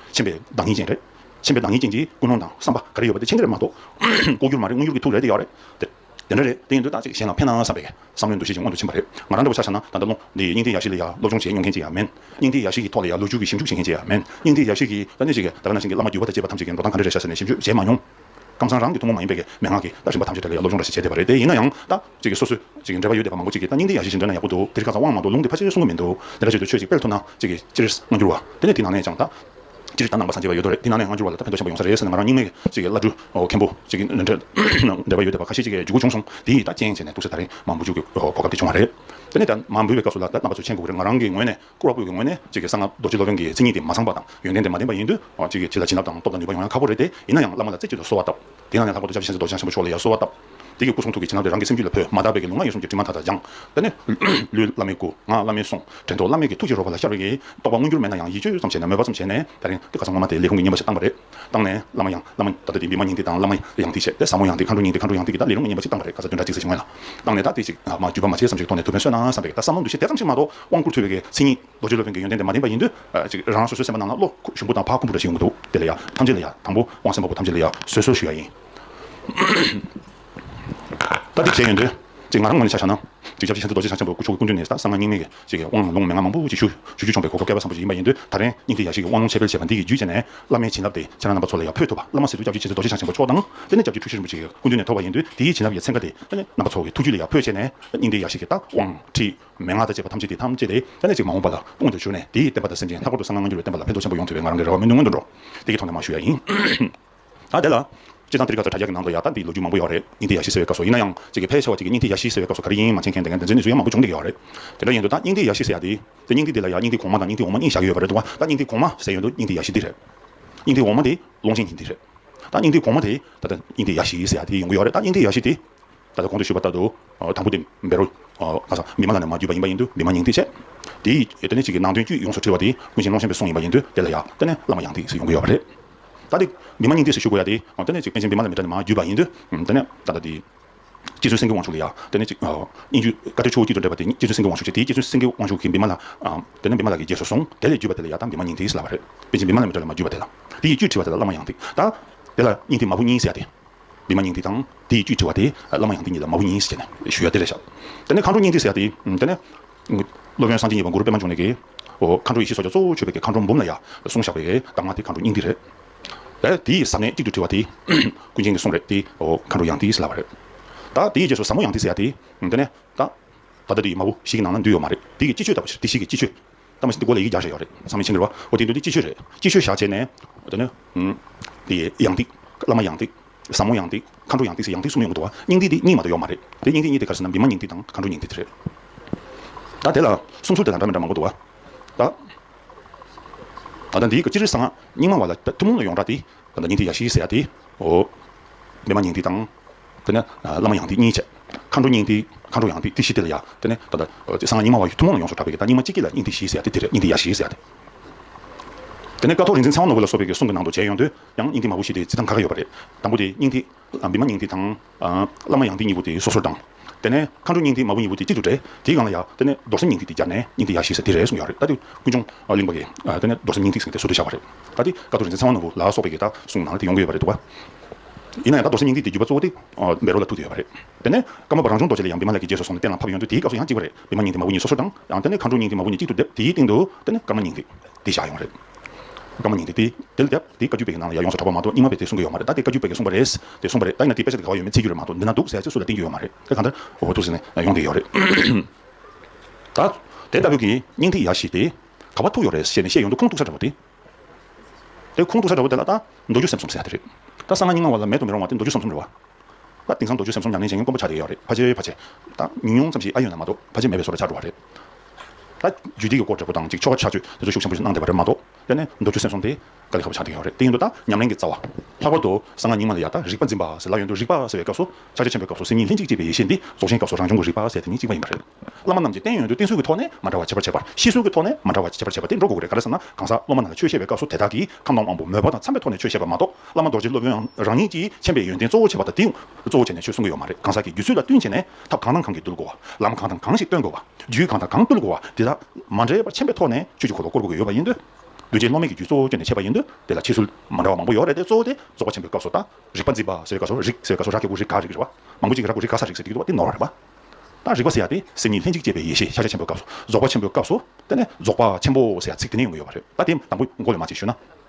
མཁྱེན་པའི་བདག་ཉིད་ཅན་རེད། མཁྱེན་པའི་བདག་ཉིད་ཅན་གྱིས་ཀུན་སློང་དང་བསམ་པ་ག་རེ་ཡོད་པ་དེ་མཁྱེན་གྱི་རེད་མ་གཏོགས། ལྐོག་གྱུར་མ་རེད་དངོས་གྱུར་གྱི་ཐུགས་རེད་དེ་ཡག་རེད། དེ་དེ་འདྲ་རེད་དེ་ཡིན་དུས་ཏག་ཅིག་གཞན་ལ་ཕན་ན་བསམ་པའི་བསམ་བློའི་འདུ་ཤེས་ཀྱིས་མངོན་དུ་ཕྱིན་པ་རེད། ང་རང་འདྲ་པོ་ཆགས་ན་ད་ལྟ་ལོ་འདིའི་སྙིང་ཐིག་ཡག་ཤོས་ལ་ཡང་སློབ་སྦྱོང་བྱེད་མྱོང་མཁན་ཅིག་ཡང་མིན། སྙིང་ཐིག་ཡག་ཤོས་ཀྱི་ཐོག་ལ་ཡང་ལོ་རྒྱུས་ཀྱི་ཞིབ་འཇུག་བྱེད་མཁན་ཅིག་ཡང་མིན། སྙིང་ཐིག་ཡག་ཤོས་ཀྱིས་ད་ནས་ཤིག་གིས་ད་ལྟ་ན་ཤིང་གི་བླ་མ་བརྒྱུད་པ་དང་བཅས་པ་ཐམས་ཅད་ཀྱི་འགྲོ་སྟངས་ག་རེ་རེད་བྱ་ཟེར་ནས་ཞིབ་འཇུག་བྱེད་མ་མྱོང། ཁམས་བཟང་རང་གི་ཐུན་མོང་མ་ཡིན་པའི་མན་ངག་གིས་ད་རིམ་པ་ཐམས་ཅད་དེ་ལ་ཡང་སློབ་སྦྱོང་འདྲ་ཞིག་བྱས་བསྡད་པ་རེད་དེ་ཡིན་ན་ཡང་ད། ཅིག་གིས་སོ་སོས། ཅིག་གིས་འདྲེས་པ་ཡོད་བསྡད་པ་མང་པོ་ཅིག་གིས་ད་སྙིང་དེ་ཡག་ཤེས་ཤིང་འདྲེས་ན་ཡག་པོ་འདུག་དེ་རིགས་གང་ཟག་དབང་མ་གཏོགས་ལུང་དེ་ཕལ་ཆེར་གསུང་གི་མི་འདུག་དེ་འདྲ་བྱེད་དུས་ཆོས་ཅིག་དཔེར་ཐུག་ན། ཅིག་གིས། ཅི་རེད། སྔ་འགྱུར་བ། དེ་ནས་དེ་ནང་ནས་ཀྱང་ད། ཅི་རེད་ད་ནང་པ་སངས་རྒྱས་པ་ཡོད་དོ་རེད་དེ་ནང་ནས་སྔ་འགྱུར་བ་ལ་ད་ཕན་ཐོགས་ཆེན་པོ་ཡོང་ས་རེད་ཟེར་ན་ང་རང་སྙིང་ནས། ཅིག་གིས་བླ་སྤྲུལ། མཁན་པོ། ཅིག་གིས། འདྲེས། འདྲེས་པ་ཡོད་བསྡད་པ་ཁ་ཤས་ཅིག་གི་རྒྱུ་གུ་བྱུང་སོང་དེ་ཡིས་ད་རྐྱེན་བྱས་ནས་འདུག་ཟེར་ད་རེས་མ་འབུལ་རྒྱུ་གི་གོ་སྐབས་དེ་བྱུང་བ་རེད། དེ་ནས་ད་མ་འབུལ་བའི་སྐབས་སུ་ལ་ད་རྣམ་པ་ཚོ་མཆན་གུག་རེ་ང་རང་གི་ངོས་ནས། བཀུར་བ་བཀུར་བའི་ངོས་ནས་ཁྱེད་ཀྱི་གསང་སྔགས་རྡོ་རྗེ་སློབ་དཔོན་གྱི་མཚན་ཉིད་དེ་མ་ཚང་པ་དང་ཡོན་ཏན་དེ་མ་ལྡན་པ་ཡིན་དུས་ཁྱེད་ཀྱིས་ཁྱེད་ལ་བྱིན་རླབས་དང་སྟོབས་དང་ནུས་པ་ཡོང་ཡང་ཁག་པོ་རེད་དེ་ཡིན་ན་ཡང་བླ་མ་ལ་རྩེ་གཅིག་ཏུ་གསོལ་བ་བཏབ། དེ་ཡིན་ན་ཡང་ལྷག་པར་དུ་ཆབ་ཆེན་རྡོ་རྗེ་འཆང་ཆེན་པོ་མཆོག་ལ་ཡང་གསོལ་བ་བཏབ། ཁྱེད་ཀྱི་སྐུ་གསུང་ཐུགས་ཀྱི་བྱིན་རླབས་དེ་རང་གི་སེམས་རྒྱུད་ལ་འཕོས་མ་ཐག་པའི་ལུས་ངག་ཡིད་གསུམ་གྱི་དྲི་མ་མཐའ་དག་སྦྱངས། ད་ནི། ལུས་བླ་མའི་སྐུ། ངག་བླ་མའི་གསུང། དྲན་རྟོག་བླ་མེད་ཀྱི་ཐུགས་ཀྱི་རོལ་པ་ལ་ཤར་བའི། རྟོགས་པ་མངོན་གྱུར་མེད་ན་ཡང་ཡིད་དཔྱོད་ཙམ་བྱས་ནས་མོས་པ་ཙམ་བྱས་ནས་ད་རིང་གི་ཁ་སང་སྔོན་མ་དེ་ལས་ཁུངས་ཀྱི་བསྙེན་པ་ཞིག་བཏང་བ་རེད། བཏང་ནས། བླ་མ་ཡང། བླ་མ། ད་ལྟ་དེ་འདི་མ་ཉན་ཏེ་དང་བླ་མ། ཡང་ཐིག་བཤད་དེ་ཟབ་མོ་ཡང་ཐིག་མཁའ་འགྲོ་ཉན་ཏེ་མཁའ་འགྲོ་ཡང་ཐིག་གི་ད་ལས་ལུང་མ་ཉན་པ་ཅིག་བཏང་པ་རེད་ག་ས་དོན་འདྲ་ཅིག་ཟེར་བྱེད་མངོན་ལ། བཏང་ནས་ད་ཐིག་ཅིག། མ་བརྒྱུད་པ་མ་བྱས་བསམ་གཞིག་ཐོག་ནས་ཐུགས་ཕན་གསོས་ན་བསམ་པས་ད་ཟབ་མོ་འདུ་ཤེས་དེ་ཙམ་ཞིག་མ་གཏོགས་དབང་བསྐུར་ཐོས་པའི་གནས་ཚིག་གཉིས་རྡོ་རྗེ་སློབ་དཔོན་གྱི་ཡོན་ཏན་དེ་མ་བསྟན་པ་ཡིན་དུས། གཅིག་རང་རང་སོ་སོའི་སེམས་པ་ནང་ན་བློ་ཞུམ་པོ་དང་ཕ་ཁུམ་པོ་འདྲ་ཞིག་ཡོང་གི་འདུག་དེ་ལ་ཡང་ཐམས་ཅད་ལ་ཡང་དང་པོ་དབང་སེམས་དཔའ་བོ་ཐམས་ཅད་ལ་ཡང་གསོལ་གསོལ་ཞུ་ཡ་ཡིན། ད་ལྟའི་མཁྱེན་ཡོན་འདི་ཅིག་ང་རང་ངོས་ནས་ཆ་བཞག་ན། གཅིག་ཞབས་ཕྱི་ཆེན་པོ་རྡོ་རྗེ་འཆང་ཆེན་པོ་སྐུ་ཕྱོགས་ཀྱི་སྐུ་མདུན་ནས་གསང་སྔགས་རྙིང་མའི་ཡེ་ཤེས་ཀྱི་དབང་ལུང་མན་ངག་མང་པོ་ཅིག་ཞུ་ཞུ་བྱུང་བའི་གོ་སྐབས་བསྐལ་པ་བཟང་པོ་ཞིག་ཡིན་པ་ཡིན་དུས་ད་རེས་སྙིང་ཐིག་ཡ་ཤིས་ཀྱི་དབང་ལུང་འཆད་སྤེལ་བྱས་པ་འདི་ཡི་རྒྱུད་བཅས་ནས་བླ་མའི་བྱིན་རླབས་དེ་ཁྱེད་རང་རྣམ་པ་ཚོ་ལ་ཡང་ཕུལ་ཐུབ་པ་བླ་མ་སི་ཏུ་སྐྱབས་རྗེ་ཆེན་པོ་རྡོ་རྗེ་འཆང་ཆེན་པོ་མཆོག་དང་དཔལ་ལྡན་སྐྱབས་རྗེ་ཁྲུ་ཞི་རིན་པོ་ཆེའི་སྐུ་མདུན་ནས་ཐོབ་པ་ཡིན་དུས་དེའི་བྱིན་རླབས་ཀྱི་ཚན་ཁ་དེ་ད་ནས་རྣམ་པ་ཚོ་གི་ཐུགས་རྒྱུད་ལ་ཡར་འཕོས་བྱས་ནས་སྙིང་ཐིག་ཡ་ཤིས་ཀྱི་རྟགས་དབང་ཁྲིད་མན་ངག་དང་བཅས་པ་ཐམས་ཅད་དེ་ཐམས་ཅད་དེ་ད་ནས་ཅིག་མ་འོངས་པ་ལ་དཔུང་དུ་བྱུར་ནས་དེའི་བསྟན་པ་དང་སེམས་ཅན་ལྷག་པར་དུ་གསང་སྔགས་སྔ་འགྱུར་བའི་བསྟན་པ་ལ་ཕན་ཐོགས་ཆེན་པོ་ཡོང་ཐུབ་པའི་ང་རང་གི་རེ་བ་སྨོན་འདུན་ཀུན་འགྲོ་འདི་གྱི་ཐོག་ནས་མ་ཞུ་ཡ་ཡིན། ད་དེ་ལ། སྤྱིར་བཏང་ཏིར་ཁ་ཚ་དྲ་རྒྱ་གི་ནང་དུ་ཡག་རྟགས་འདི་ལོ་རྒྱུས་མང་པོ་ཡོད་རེད་སྙིང་ཏིག་ཡ་ཤི་ཟེར་བའི་སྐབས་སུ་ཡིན་ན་ཡང་ཚིག་གི་ཕལ་ཆེ་བ་གཅིག་གིས་སྙིང་ཐིག་ཡ་ཤི་ཟེར་བའི་སྐབས་སུ་ག་རེ་ཡིན་ཡིན་མ་མཁྱེན་མཁན་དེ་འགན་འཛིན་ནས་ཚུར་ཡ་མང་པོ་བྱུང་བསྡད་ཀྱི་ཡོད་རེད། དེ་འདྲ་ཡིན་དུས་རྟགས་སྙིང་ཐིག་ཡ་ཤི་ཟེར་ཡ་འདི། དེ་སྙིང་ཐིག་འདི་ལ་ཡང་སྙིང་ཐིག་གོང་མ་དང་སྙིང་ཐིག་འོག་མ་གཉིས་བཞག་གི་ཡོད་པ་རེད་འདུག་བ་རྟགས་སྙིང་ཐིག་གོང་མ་ཟེར་ཡོད་འདུག་སྙིང་ཐིག་ཡ་ཤི་འདི་རེད། སྙིང་ཐིག་འོག་མ་འདི་ཀློང་ཆེན་གཉིས་འདི་རེད། རྟགས་སྙིང་ཐིག་གོང་མ་དེ། ད་ལྟ་སྙིང་ཐིག་ཡ་ཤི་ཟེར་ཡ་དེ་ཡོང་གི་ཡོད་རེད་རྟགས་སྙིང་ཐིག་ཡ་ཤི་དེ། ད་ལྟ་གོང་དུ་ཞུས་པ་ལྟར་དུ། དང་པོ་དེ་འབེ་རོ། ཁ་ཚ། འབི་མ་ལ་ནས་མ་བརྒྱུད་པ་ཡིན་པ་ཡིན་དུས་འབི་མ་སྙིང་ཐིག་བྱས། དེའི་ཡོད་དོན་ནི་གཅིག་གིས་ནང་དོན་དཀྱུས་ཡོངས་སུ་འཁྲིལ་བ་དེ་ཀུན་གཞིའི་ཀློང་ཆེན་པའི་གསུང་ཡིན་པ་ཡིན་དུས་དེ་ལ་ཡག་རྟགས་ནས་བླ་མ་ཡང་ཏིག་ཟེར་ཡོང་གི་ཡོད་པ་རེད། ད་དེ་བི་མ་སྙིང་ཐིག་སུ་ཞུ་དགོས་ཡ་དེ། དེ་ནས་ཅིག་པན་ཆེན་བི་མ་ལ་མི་ཏྲ་ནི་མ་བརྒྱུད་པ་ཡིན་དུས། དེ་ནས་ད་ལྟ་དེ། སྐྱེ་ཚུལ་སེང་གེ་དབང་ཕྱུག་ལ་ཡ། དེ་ནས་ཅིག། དབྱིན་ཇུས་བཀའ་ཁྲིར་ཆུ་བོ་དཀྱིལ་དུ་འདྲེས་པ་དེ་སྐྱེ་ཚུལ་སེང་གེ་དབང་ཕྱུག་ཅེས་དེའི་སྐྱེ་ཚུལ་སེང་གེ་དབང་ཕྱུག་གིས་བི་མ་ལ། དེ་ནས་བི་མ་ལ་གི་རྗེས་སུ་སོང་དེ་ལས་བརྒྱུད་པ་དེ་ལ་ཡ་དང་བི་མ་སྙིང་ཐིག་སི་ལ་བ་རེད། པན་ཆེན་བི་མ་ལ་མི་ཏྲ་ལ་མ་བརྒྱུད་པ་དེ་ལ། དེ་ཡི་བཅུད་བྲི་བ་དེ་ལ་བླ་མ་ཡང་ཐིག་ད། དེ་ལ་སྙིང་ཐིག་མ་བུ་གཉིས་སི་ཡ་དེ། བི་མ་སྙིང་ཐིག་དང་དེ་ཡི་བཅུད་བྲི་བ་དེ་བླ་མ་ཡང་ཐིག་གཉིས་ལ་མ་བུ་གཉིས་སི་བྱས་ནས་ཞུ་ཡ་དེ་ལས་བཞག། དེ་ནས་མཁའ་འགྲོ་སྙིང་ཐིག་སི་ཡ་དེ། དེ་ནས། སློབ་དཔོན་སངས་རྒྱས་གཉིས་པ་གུ་རུ་པདྨ་འབྱུང་གནས་ཀྱིས། མཁའ་འགྲོ་ཡེ་ཤེས་སོ་བརྒྱ་གཙོ་བོ་མཆོད་པའི་གྱི་མཁའ་འགྲོ་འབུམ་ལ་ཡ་གསུང་བཞག་པས་བདག་མ་དེ་མཁའ་འགྲོ་སྙིང་ཏིག་རེད། ལས་དེ་ཡི་ཟབ་གནད་གཅིག་ཏུ་དྲིལ་བ་དེ། ཀུན་མཁྱེན་གྱི་གསུང་རེད་དེ། མཁའ་འགྲོ་ཡང་ཏིག་ཟེར་སླ་བ་རེད། ད་དེ་ཡི་རྗེས་སུ་ཟབ་མོ་ཡང་ཏིག་ཟེར་ཡ་དེ། དེ་ནས། ད་ལྟ་དེ་ཡི་མ་བུ་ཞིག་གི་ནང་ན་འདུས་ཡོད་མ་རེད་དེ་ཡི་སྤྱི་ཆོས་ལྟ་བུ་ཞིག་དེ་ཞིག་གི་སྤྱི་ཆོས། ལྟ་མ་ཞིག་འདི་མགོ་ལ་ཡིག་བརྒྱ་ཞེས་ཡོད་རེད་ཚང་མས་མཆན་འབུལ་བ་ཨོ་དེ་འདུག་འདི་སྤྱི་ཆོས་རེད་སྤྱི་ཆོས་བཞག་བྱས་ནས། དེ་ནས། དེ་ཡི་ཡང་ཏིག། བླ་མ་ཡང་ཏིག། བཟང་མོ་ཡང་ཏིག་མཁའ་འགྲོ་ཡང་ཏིག་སེ་ཡང་ཏིག་གསུམ་ཡོང་གི་འདུག་བ་སྙིང་ཏིག་འདི་སྙིང་མ་དང་ཡོག་མ་རེད་དེ་སྙིང་ཏིག་གཉིས་དེ་གར་ཟིན་ན་མི་མ་སྙིང་ཏིག་དང་མཁའ་འགྲོ་སྙིང་ཏིག་དེ་རེད་ད་དེ་ལ་སུམ་ཚུར་དེ་དང་འདྲ་མི་འདྲ་མང་པོ་འདུག་བ་ད་ད་ད་འདིའི་ག་ཅི་རེད་ས་ང་སྙིང་མ་བ་ལ་ཐུན་མོང་ལ་ཡོང་འདྲ་དེ་ད་ད་སྙིང་ཏིག་ཡག་ཤི་ཤི་ཟེར་ཡ་དེ་ཨོ་མི་མ་སྙིང་ཏིག་དང་དེ་ནས་བླ་མ་ཡང་ཏིག་གཉིས་བྱས་མཁའ་འགྲོ་སྙིང་ཏིག་མཁའ་འགྲོ་ཡང་ཏིག་དེ་བཞི་དེ་ལ་ཡ་དེ་ནས་ད་ད་ད་ས་ང་སྙིང་མ་བ་ཡི་ཐུན་མོང་ལ་ཡོང་ཆོག་འདྲ་བས་ཀྱི་ད་སྙིང་མ་གཅིག་གི་ལ་སྙིང་ཏིག་བཞི་ཟེར་ཡ་དེ་དེ་རེད་སྙིང་ཏིག་ཡག་ཤི་ཤི་ཟེར་ཡ་དེ་དེ་ནས་ཀ་ཐོག་རིག་འཛིན་ཚེ་དབང་ནོར་བུ་ལ་སོགས་པའི་གསུང་གི་ནང་དུ་མཇལ་ཡོང་དུས་ཡང་སྙིང་ཐིག་མ་བུ་བཞི་དེ་ཚིག་གྲངས་ཁ་ཁ་ཡོད་པ་རེད། དང་པོ་དེ་སྙིང་ཐིག། བི་མ་སྙིང་ཐིག་དང། བླ་མ་ཡང་ཐིག་གཉིས་པོ་དེ་སོ་སོར་བགྲང། དེ་ནས་མཁའ་འགྲོ་སྙིང་ཐིག་མ་བུ་གཉིས་པོ་དེ་གཅིག་ཏུ་སྦྲེལ། དེའི་སྒང་ལ་ཡང། དེ་ནས་རྡོར་སེམས་སྙིང་ཐིག་དེ་སྦྱར་ནས་སྙིང་ཐིག་ཡ་བཞི་ས་དེ་རེད་གསུངས་ཀྱི་ཡོད་རེད། ད་དེ་ཀུན་འབྱུང་གླིང་པ་ལས། དེ་ནས་རྡོར་སེམས་སྙིང་ཐིག་ཟེར་བའི་དེ་སོ་དེ་བཞག་པ་རེད། ད་དེ་ཀ་ཏོ་རིན་ཆེན་ཚེ་དབང་ནོར་བུ་ལ་སོགས་པའི་གེ་དག་གསུངས་ནང་ལ་དེ་ཡོང་གི་ཡོད་པ་རེད་འདུག་བ། ཡིན་ན་ཡང་ད་རྡོར་སེམས་སྙིང་ཐིག་དེ་བརྒྱུད་པ་གཙོ་བོ་དེ། བེ་རོ་ལ་ཐུག་གི་ཡོད་པ་རེད། དེ་ནས་ཀརྨ་པ་རང་བྱུང་རྡོ་རྗེ་ལས་ཡང་བི་མ་ལས་ཀྱི་རྗེས་སུ་སོང་ནས་གཏན་ལ་ཕབ་ཡོང་དུས་དེའི་སྐབས་སུ་ཡང་གཅིག་པ་རེད། བི་མ་སྙིང་ཐིག་མ་བུ་གཉིས་སོ་སོར་བགྲང། ཡང་དེ་ནས་མཁའ་འགྲོ་སྙིང་ཐིག་མ་བུ་གཉིས་གཅིག་ཏུ་སྡེབ། དེའི་སྟེང་དུ། དེ་ནས་ཀརྨ་སྙིང་ཐིག། དེ་བཞག་ཡོང་བ་རེད། སྒྲོན་མ་ཉིད་དེ་དེ་ལ་བརྒྱབ། དེའི་བཀའ་བརྒྱུད་པའི་ནང་ལ་ཡར་ཡོངས་སུ་གྲགས་པ་མ་གཏོགས་རྙིང་མ་བས་དེ་གསུངས་ཀྱི་ཡོད་མ་རེད་ད་དེ་བཀའ་བརྒྱུད་པས་གསུངས་པ་རེད། དེ་གསུངས་པ་རེད་ད་ཡིན་ན་དེ་དཔེ་ཆ་དེ་ག་བ་ཡོད་མེད་ཚིག་བརྒྱུད་རེད་མ་གཏོགས་འདི་ན་འདུག་ཟེར་ཡ་ཚིག་སུ་ལ་བསྟན་གྱི་ཡོད་མ་རེད་དེ་གང་ལྟར། འོ་ཐུགས་ཟིན་ནས་ཡོང་གི་ཡོད་རེད། ད། དེ་ལྟ་བུའི་གི་སྙིང་ཐིག་ཡག་ཞིག་དེ། ག་བ་ཐུག་ཡོད་རེད་ཞེས་ནས་བཤད་ཡོང་དུ་ཁུངས་གཏུགས་ས་འདྲ་བོ་དེ། དེ་ཁུངས་གཏུགས་ས་འདྲ་བོ་དེ་ལ་ད། མདོ་རྒྱུད་སེམས་གསུམ་ཟེར་ཡ་དེ་རེད། ད་གསང་སྔགས་རྙིང་མ་བ་ལ་མེད་དུ་མི་རུང་བ་དེ་མདོ་རྒྱུད་སེམས་གསུམ་རེད་བ། ད་དེང་སང་མདོ་རྒྱུད་སེམས་གསུམ་ཉམས་ལེན་བྱེད་མཁན་དཀོན་པོ་ཆགས་ཀྱི་ཡོད་རེད་ཕ་ཆེ་ཕ་ཆེ། ད་ཉུང་ཉུང་ཙམ་ཞིག་ཨ་ཡོད་ན་མ་གཏོགས་ཕ་ཆེ་མེད་པའི་བཟོ་ལ་ཆགས་འགྲོ་བ་རེད། ད་རྒྱུད་སྡིག་གི་སྐོར་འབྲས་བུ་དང་གཅིག་ཆོ་ག་ཕྱག་མཆོད་དེ་ཚོ་ཤུགས་ཆེན་པོ་ཞིག་གནང་བསྡད་པ་རེད་མ་གཏོགས། ཡ་ནི་མདོ་རྒྱུད་སེམས་གསུམ་དེ་དཀའ་ལས་ཧ་པོ་ཆགས་བསྡད་ཡོད་རེད་དེ་ཡིན་དུས་ད་ཉམས་ལེན་གྱི་རྩ་བ། ལྷག་པར་དུ་གསང་སྔགས་རྙིང་མ་ལ་ཡང་དག་རིག་པ་འཛིན་པ་ཟེར་ལ་ཡོན་དུ་རིག་པ་ཟེར་བའི་སྐབས་སུ་ཕྱག་རྒྱ་ཆེན་པོའི་སྐབས་སུ་སེམས་ཉིད་ལྷན་ཅིག་སྐྱེས་པའི་ཡེ་ཤེས་འདི་རྫོགས་ཆེན་སྐབས་སུ་རང་བྱུང་གི་རིག་པ་ཟེར་དེ་གཉིས་གཅིག་མ་ཡིན་པ་རེད། བླ་མ་རྣམས་ཀྱིས་བསྟན་ཡོན་དུ་བསྟན་སྲོལ་གྱི་ཐོག་ནས་མ་འདྲ་བ་བྱེད་པར་བྱས་པར་ཤེས་སྲོལ་གྱི་ཐོག་ནས་མ་འདྲ་བ་བྱེད་པར་བྱས་པ་དེ་འགྲོ་དགོས་ཀྱི་རེད་ག་རེ་བསམ་ན་གང་ཟག་སློབ་མ་རྣམས་ལ་ཆོས་བཤད་པའི་སྐབས་སུ་དེ་དག་གིས་ཁམས་དྭངས་དབང་པོ་མོས་པ་དང་འཚམས་པའི་ཐོག་ནས་ཆོས་བཤད་པ་མ་གཏོགས་བླ་མ་རྡོ་རྗེ་སློབ་དཔོན་རང་ཉིད་ཀྱིས་མཁྱེན་པའི་ཡོན་ཏན་གཙོ་བོ་བྱེད་པ་དང་དེའི་གཙོ་བོ་བྱས་ནས་ཆོས་གསུང་གི་ཡོད་མ་རེད་གང་ཟག་གི་རྒྱུད་ཚུལ་ལ་བསྟུན་བྱས་ནས་ཐབས་གང་དང་གང་གིས་བཏུལ་དགོས་བ། ལམ་གང་དང་གང་ཞིག་སྟོན་དགོས་བ། རྒྱུད་གང་དང་གང་བཏུལ་དགོས་བ་དེ་དག། མ་འདྲེས་པར་མཁྱེན་པའི་ཐོག་ནས་ཆོས་ཀྱི་འཁོར་ལོ་བསྐོར་དགོས་ཀྱི་ཡོད་པ་ཡིན། འདུས་བྱས་བློ་དམན་གྱི་རྒྱུད་གཙོ་བོ་བསྐྱོན་ནས་འཆད་པ་ཡིན། དེ་ལ་ཕྱི་ཚུལ་མ་འདྲ་བ་མང་པོ་ཡོད་རེད་དེ་གཙོ་བོ་དེ་རྫོགས་པ་ཆེན་པོའི་སྐབས་སུ་ལྟ། རིག་པ་འཛིན་པ་ཟེར་ག་སོ་རིག་ཟེར་ག་སོ་ར་གེ་བོ་རིག་ག་རིག་རེད་བ། མང་པོ་ཅིག་གིས་ར་གོ་རིག་ག་ས་རིག་ཟེར་གི་ཡོད་པ་དེ་ནོར་བ་རེད་བ། ད་རིག་པ་ཟེར་ཡ་དེ་སེམས་ཉིད་ལྷན་ཅིག་སྐྱེས་པའི་ཡེ་ཤེས་ཤཱཀྱ་ཆེན་པོའི་སྐབས་སུ་རྫོགས་པ་ཆེན་པོའི་སྐབས་སུ། དེ་ནས་རྫོགས་པ་ཆེན་པོ་ཟེར་ཡ་ཚིག་དེ་ནས་ཡོང་གི་ཡོད་བ་རེད། ད་དེ་དང་པོ་མགོ་ལས་མ་བྱས་ཞུས་ན།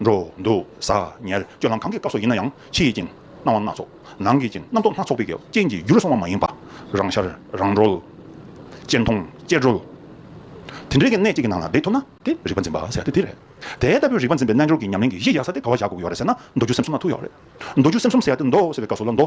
འགྲོ་འདུག་ཟ་ཉལ་སྤྱོད་ལམ་གང་གི་སྐབས་སུ་ཡིན་ན་ཡང་ཕྱི་ཡི་རྐྱེན་སྣང་བ་སྣ་ཚོགས་ནང་གི་རྐྱེན་རྣམ་རྟོག་སྣ་ཚོགས་པའི་གེགས་རྐྱེན་གྱིས་བསྒྱུར་སོང་བ་མ་ཡིན་པར། རང་ཤར་རང་གྲོལ། གཅེས་མཐོང་གཅེས་གྲོལ། དེ་འདྲའི་གི་གནད་གཅིག་གི་ནང་ལ་འདེད་ཐུབ་ན། དེ་རིག་པ་འཛིན་པ་ཟེར་ཏེ་དེ་རེད། དེ་ལྟ་བུའི་རིག་པ་འཛིན་པའི་རྣལ་འབྱོར་གྱི་ཉམས་ལེན་གྱི་གཞི་ཡག་ས་དེ་ག་བ་བཞག་དགོས་ཀྱི་ཡོད་རེད་ཟེར་ན་མདོ་རྒྱུད་སེམས་གསུམ་ལ་ཐུག་ཡོད་རེད། མདོ་རྒྱུད་སེམས་གསུམ་ཟེར་ཡ་དེ་མདོ་ཟེར་བའི་སྐབས་སུ་ལ་མདོ།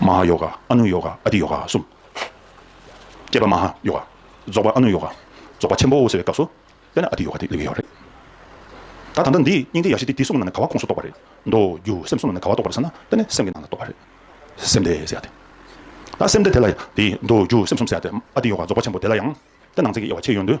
མ་ཧཱ་ཡོ་ག་ཨ་ནུ་ཡོ་ག་ཨ་ཏི་ཡོ་ག་གསུམ། བསྐྱེད་པ་མ་ཧཱ་ཡོ་ག། རྫོགས་པ་ཨ་ནུ་ཡོ་ག། རྫོགས་པ་ཆེན་པོའོ་ཟེར་བའི་སྐབས་སུ། དཔེར་ན་ཨ་ཏི་ཡོ་ག་དེ་གླེང་གི་ཡོད་རེད། ད་ད་ལྟ་འདིས་སྙིང་ཏིག་ཡ་བཞི་སྟེ་དེ་གསུམ་ལ་ནི་ག་བ་ཁོངས་སུ་གཏོགས་པ་རེད། མདོ་སྒྱུ་སེམས་གསུམ་ལ་ནི་ག་བ་གཏོགས་པ་རེད་ཟེར་ན་དཔེར་ན་སེམས་ཀྱི་ནང་ལ་གཏོགས་པ་རེད། སེམས་དེ་ཟེར་ཡ་དེ། ད་སེམས་དེ་དེ་ལ་ཡང་དེའི་མདོ་སྒྱུ་སེམས་གསུམ་ཟེར་ཡ་དེ། ཨ་ཏི་ཡོ་ག་རྫོགས་པ་ཆེན་པོ་དེ་ལ་ཡང། དེ་ནང་ཚན་གྱི་དབྱེ་བ་ཕྱེ་ཡོད་དུས།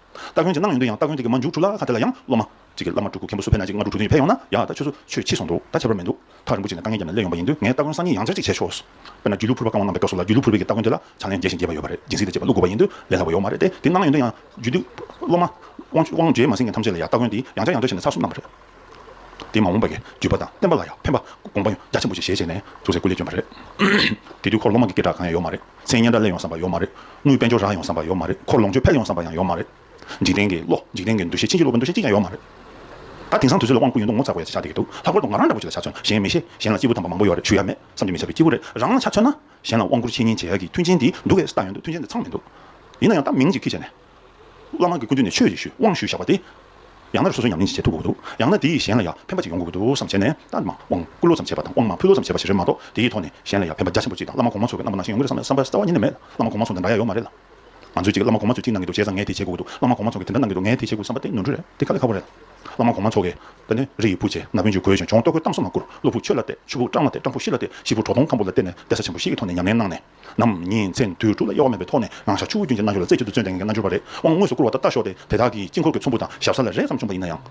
སྟ་གོན་གྱི་གནང་ཡོང་དུས་ཡང་སྟ་གོན་དེ་གི་མ་མཇུག་གྲུ་ལ་ཁ་དེ་ལ་ཡང་སློབ་མ། གཅིག་གི་བླ་མ་སྤྲུལ་སྐུ་མཁན་པོ་སུ་ཕེབས་ན་གཅིག་སྔ་དྲུག་གྲུ་དོན་ཡོད་ཕེབས་ཡོང་ན་ཡང་ད་ཆོས་ཚུ་ཆོས་ཕྱིས་སོང་འདུག་ད་ཁྱད་པར་མི་འདུག་ཐག་རིན་པོ་ཆེ་ནས་དཀའ་ངལ་བརྒྱབ་ནས་སླེབས་ཡོང་པ་ཡིན་དུས་ངས་སྟ་གོན་སང་ཉིན་ཡང་འཚར་གཅིག་བྱས་ཆོག་བས་ན་རྒྱུད་ལུས་ཕུར་པ་བཀང་བ་གནང་པའི་སྐབས་སུ་ལ་རྒྱུད་ལུས་ཕུར་པའི་གི་སྟ་གོན་དེ་ལ་ཕྱག་ལེན་རྒྱས་ཤིང་རྒྱས་པ་ཡོད་པ་རེད་སྦྱིན་སྲེག་དང་བཅས་པ་བླུགས་དགོས་པ་ཡིན་དུས་ལས་སླ་བ་ཡོག་མ་རེད་དེ་དེ་གནང་ཡོང་དུས་ཡང་རྒྱུད་ལུས་སློབ་མ། དབང་བྱེད་མ་སྲིང་མཁན་ཐམས་ཅད་ལ་ཡང་སྟ་གོན་དེ་ཡང་བྱ་ཡང་བྱ་བྱས་ནས་ཚར་གསུམ་གནང་བ་རེད། དེ་མ་འོངས་པའི་བརྒྱུད་པ་དང་བསྟན་པ་ལ་ཡང་ཕན་པ་དགོངས་པ་རྒྱ་ཆེན་པོ་ཞིག་བཞེས་བྱས་ནས་ཟུར་ཟའི་སྐུ་ལས་བསྐྱོན་པ་རེད། དེ་དུས་འཁོར་ལོ་མང་གི་སྐད་གྲགས་གང་ཡང་ཡོད་མ་རེད། མཚན་སྙན་གྲྭ་གླེང་ཡོང་བསམ་པ་ཡོད་མ་རེད། དངུལ་དཔལ་འབྱོར་རག་ཡོང་བསམ་པ་ཡོད་མ་རེད། འཁོར་ལོངས་སྤྱོད་འཕེལ་ཡོང་བསམ་པ་ཡང་ཡོད་མ་རེད། འཇིག་རྟེན་གྱི་བློ་འཇིག་རྟེན་གྱི་འདུ་ཤེས་ཕྱིན་ཅི་ལོག་གི་འདུ་ཤེས་གཅིག་ཀྱང་ཡོད་མ་རེད། ད་དེང་སང་དུས་ཚོད་ལ་དབང་བསྐུར་ཡོད་འདུག་ངོ་ཚ་བོ་ཡ་ཆེ་ཆགས་བསྡད་ཀྱི་འདུག་ལྷག་པར་དུ་ང་རང་འདྲ་བོ་ཅིག་ལ་ཆ་མཚོན་གཞན་མི་ཤེས་གཞན་ལ་སྐྱེས་བུ་དམ་པ་མང་པོ་ཡོད་རེད་ཞུ་ཡ་མེད་བསམ་གྱི་མི་བྱ་བའི་སྐྱེས་བུ་རེད་རང་ལ་ཆ་མཚོན་ན་གཞན་ལ་དབང་བསྐུར་འཆད་ཉན་བྱེད་ཡ་གི་མཐུན་རྐྱེན་དེ་འདུག་གས་ལྟ་ཡོང་འདུག་མཐུན་རྐྱེན་དེ་ཚང་མི་འདུག་ཡིན་ན་ཡང་ད་མིང་ཅིག་ཁུལ་བྱས་ནས། བླ་མ་གི་སྐུ་མདུན་ནས་ཆོས་ཡེ་ཤུའི་དབང་ཞུས་བཞག་པ་དེ། ཡང་ན་རེ་སོ་སོའི་ཉམས་ལེན་ཅིག་བྱེད་ཐུབ་དགོས་ཀྱི་འདུག་ཡང་ན་དེ་ཡིས་གཞན་ལ་ཡང་ཕན་པ་ཅིག་ཡོང་དགོས་ཀྱི་འདུག་བསམ་བྱས་ནས་རྟ་མང་དབང་བསྐུར་ལོ་ཙམ་བྱས་པ་དང་དབང་མང་ཕུལ་ལོ་ཙམ་བྱས་པ་ཞིག་རེད་མ་གཏོགས་དེའི་ཐོག་ནས་གཞན་ལ་ཡང་ཕན་པ་རྒྱ་ཆེན་པོ་ཅིག་དང་བླ་མ་གོང་མ་ཚོ་གི་རྣམ་པ་ནང་བཞིན་ཡོང་གི་རེད་བསམ་ན་བསམ་པ་གཉིས་ནས་མེད། བླ་མ་གོང་མ་ཚོ་འདི་འདྲ་ཡག་ཡོད་མ་རེད་ལ། ང་ཚོས་ཅིག་བླ་མ་གོང་མ་ཚོས་ཅིག་གནང་གི་འདུག་བྱས་ཙང་ངས་དེ་བྱེད་དགོས་ཀྱི་འདུག་བླ་མ་གོང་མ་ཚོ་གི་དེ་འདྲ་གནང་གི་འདུག་ངས་དེ་བྱེད་དགོས་བསམ་པ་དེ་ནོར་འཁྲུལ་རེད་དེ་ག་ལས་ཁག་པོ་རེད་ལ། བླ་མ་གོང་མ་ཚོ་གི། ད་ནི་རི་ཡི་བུ་ཆེ་ན་བུན་ཆེ་གོས་ཆེ་མཆོང་ལྟོ་གོས་བཏང་སོ་མ་བསྐུར་བློ་ཕུག་ཆོས་ལ་གཏད་ཆུ་ཕུག་སྤྲང་ལ་གཏད་སྤྲང་ཕུག་ཤི་ལ་གཏད་ཤི་ཕུག་གྲོག་སྟོང་ཁམ་བུ་ལ་གཏད་ནས་གདན་ས་ཆེན་པོ་ཞིག་གི་ཐོག་ནས་ཉམས་ལེན་གནང་ནས། ནམ། ཉིན་མཚན་དུས་དྲུག་ལ་གཡོ་བ་མེད་པའི་ཐོག་ནས་ནང་ཞག་ཆུ་བོ་རྒྱུན་གྱི་རྣལ་འབྱོར་ལ་རྩེ་གཅིག་ཏུ་བརྩོན་ལྡན་གྱི་རྣལ་འབྱོར་པ་རེ་དབང་དངོས་སུ་བསྐུར་བ་ལྟར་ལྟ་ཞོག་དེ་དེ་དག་གིས་དཀྱིལ་འཁོར་གྱི་ཚོམ་བུ་དང་ཞབས་ས་ལ་རེས་ཙམ་བྱུང་བ་ཡིན་ན་ཡང།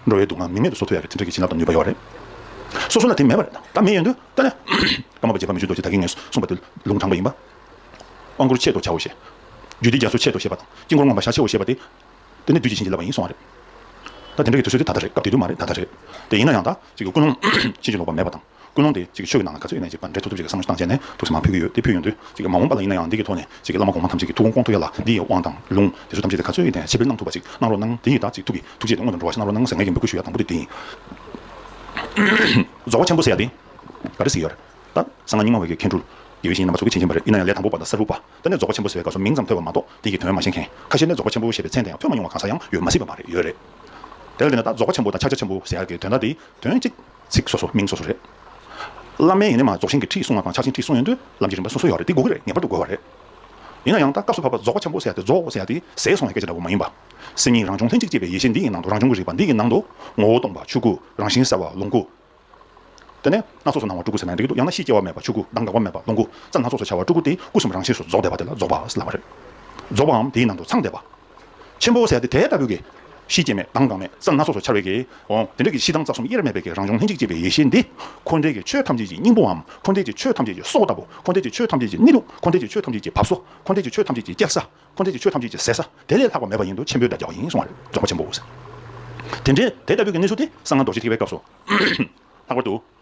འགྲོ་བའི་སྡུག་བསྔལ་མི་མེད་དུ་སོ་ཐུ་ཡ་གི་ཐུན་ཕྲད་ཀྱི་བྱིན་རླབས་དང་ནུས་པ་ཡོད་པ་རེད། སོ་སོ་ལ་དེ་མེད་པ་རེད། ད་མེད་ཡོད་འདོད་ལྟ་ནས། ཀརྨ་པ་རྗེ་ཕ་མེས་ཆོས་རྡོ་རྗེ་དག་གིས་ངས་གསུངས་པ་དེ་ལུང་དྲངས་པ་ཡིན་པ། དབང་བསྐུར་ཆེད་དུ་བྱའོ་ཞེས། རྒྱུད་སྡེ་རྒྱ་མཚོའི་ཆེད་དུ་ཞེས་པ་དང་དཀྱིལ་འཁོར་མངོན་པར་བྱ་ཆེའོ་ཞེས་པ་དེ། དེ་ནི་བདུད་ཀྱིས་བྱིན་གྱིས་བརླབས་པ་ཡིན་གསུང་བ་རེད། ད་དེ་འདྲ་གི་དུས་ཚོད་དེ་ད་ལྟ་རེད་སྐབས་དེ་དུས་མ་རེད་ད་ལྟ་རེད། དེ་ཡིན་ན་ཡང་ད་གཅིག་གི་ཀུན་སློང་ཕྱིན་ཅི་ལོག་པ་མེད་པ་དང། ཀུན་སློང་དེ་གཅིག་གིས་ཆོས་ཀྱི་ནང་ལ་ག་ཚོད་ཡོད་མེད་ཅེས་པར་འགྲེལ་ཐུབ་ཐུབ་ཅིག་གི་བསམ་བློ་བཏང་བྱས་ནས་ཐུགས་སུ་མ་ཕུལ་གྱི་ཡོད་དེ་ཕུལ་ཡོང་དུས་གཅིག་གིས་མ་འོངས་པ་ལ་ཡིན་ན་ཡང་འདི་གི་ཐོག་ནས་གཅིག་གིས་བླ་མ་གོང་མ་ཐམས་ཅད་ཀྱི་ཐུགས་དགོངས་སྐོང་ཐུབ་ཡ་ལ་འདི་ཡི་དབང་དང་ལུང་དེ་ཚོ་ཐམས་ཅད་དེ་ག་ཚོད་ཡོད་དེ་ཕྱི་དཔེར་གནང་ཐུབ་པ་ཅིག་གནང་རོགས་གནང་དེ་ཡི་དག་ཅིག་ཐུགས་ཀྱི་ཐུགས་རྗེས་དེ་མངོན་དུ་འགྲོ་བ་ཞིག་གནང་རོགས་གནང་ཟེར་ངེས་ཀྱི་འབོད་སྐུལ་ཞུ་ཡ་དང་པོ་དེ་དེ་ཡིན། རྫོགས་པ་ཆེན་པོ་ཟེར་ཡ་དེ་ག་རེ་ཟེར་ཡོད་རེད་ད། གསང་སྔགས་རྙིང་མ་བོད་ཀྱི་མཁན་སྤྲུལ་དགེ་བའི་བཤེས་གཉེན་རྣམ་པ་ཚོགས་ཀྱིས་བྱིན་ཕྱིན་པ་རེད་ཡིན་ན་ཡང་ལས་དང་པོ་པ་དང་གསར་བུ་པ་ད་ནས་རྫོགས་པ་ཆེན་པོ་ཟེར་བའི་སྐབས་སུ་མིང་ཙམ་ཐོས་པ་མ་གཏོགས་དེ་ཡི་དོན་མ་ཤེས་མཁན་ཁ་ཤས་ནས་རྫོགས་པ་ཆེན་པོ་ཞེས་པའི་མཚན་དེ་ཡང་ཐོས་མ་མྱོང་བ་གང་ཟག་ཡང་ཡོད་མ་སྲིད་པ་མ་རེད་ཡོད་རེད། དེ་ལ་འདི་ནས་ད་རྫོགས་པ་ཆེན་པོ་དང་ཕྱག་རྒྱ་ཆེན་པོ་ཟེར་ཡ་གི་དོན་དག་དེ་དོན་གཅིག་ཚིག་སོ་སོ་མིང་སོ་སོ་རེད། བླ་མའི་ཡིན་ནི་མ་རྫོགས་ཤིང་གི་ཁྲིད་གསུངས་བ་དང་ཕྱག་ཆེན་ཁྲིད་གསུངས་ཡོན་ཏོའི་ལམ་གྱི་རིམ་པ་སོ་སོ་ཡོད་རེད་དེ་དགོས་ཀྱི་རེད་ངེས་པར་དུ་དགོས་བ་རེད། ཡིན་ན་ཡང་ད་སྐབས་སུ་བབ་པ་རྫོགས་པ་ཆེན་པོ་ཟེར་ཡ་དེ་རྫོགས་ཟེར་ཡ་དེ་ཟད་སོང་བའི་སྐད་ཆ་འདྲ་བོ་མ་ཡིན་པ། སེམས་ཉིད་རང་བྱུང་ལྷན་ཅིག་སྐྱེས་པའི་ཡེ་ཤེས་འདི་ཡི་ནང་དུ་རང་བྱུང་གི་རིག་པ་འདི་ཡི་ནང་དུ། ངོ་བོ་སྟོང་པ་ཆོས་སྐུ་རང་བཞིན་གསལ་བ་ལོངས་སྐུ། དེ་ནས་སྣ་ཚོགས་སུ་སྣང་བ་སྤྲུལ་སྐུ་ཟེར་ན་འགྲིག་གི་འདུག་ཡང་ན་ཤེས་སྐྱེ་བ་མེད་པ་ཆོས་སྐུ་གདངས་འགག་པ་མེད་པ་ལོངས་སྐུ། རྩ་སྣ་ཚོགས་སུ་འཆར་བ་སྤྲུལ་སྐུ་དེ་སྐུ་གསུམ་རང་བཞིན་སུ་རྫོགས་བསྡད་པ་དེ་ལ་རྫོགས་པ་ལབ་བ་རེད། རྫོགས་པའམ་དེའི་ནང་དུ་ཚང་བསྡད་པ། ཆེན་པོ་ཟད་དེ་དེ་ལྟ་བུ་གི། གཤིས་སྐྱེ་མེད་དྭངས་གང་མེད་ས་སྣ་སོ་སོར་འཆར་བའི་གི། འོང། དེ་འདྲ་གི་གཤིས་དྭངས་རྩ་གསུམ་དབྱེར་མེད་པའི་གི་རང་བྱུང་ལྷན་ཅིག་སྐྱེས་པའི་ཡེ་ཤེས་འདི། འཁོར་འདས་ཀྱི་ཆོས་ཐམས་ཅད་ཀྱི་སྙིང་པོའམ། འཁོར་འདས་ཀྱི་ཆོས་ཐམས་ཅད་ཀྱི་སྲོག་ལྟ་བུ། འཁོར་འདས་ཀྱི་ཆོས་ཐམས་ཅད་ཀྱི་གནས་ལུགས། འཁོར་འདས་ཀྱི་ཆོས་ཐམས་ཅད་ཀྱི་བབས་སོ། འཁོར་འདས་ཀྱི་ཆོས་ཐམས་ཅད་ཀྱི་སྐྱེ་ས། འཁོར་འདས་ཀྱི་ཆོས་ཐམས་ཅད་ཀྱི་ཟད་ས། དེ་ལས་ལྷག་པ་མེད་པ་ཡིན་དུ་ཆེན་པོའི་སྒྲ་རྒྱག་བ་ཡིན་གསུང་བར་རྫོགས་པ་ཆེན་པོའོ། དེ་འདྲའི་དེ་ལྟ་བུའི་གི་གནས་ཚུལ་དེ་གསང་སྔགས་རྡོ་རྗེ་ཐེག་པའི་སྐབས་སོ། ལྷག་པར་དུ།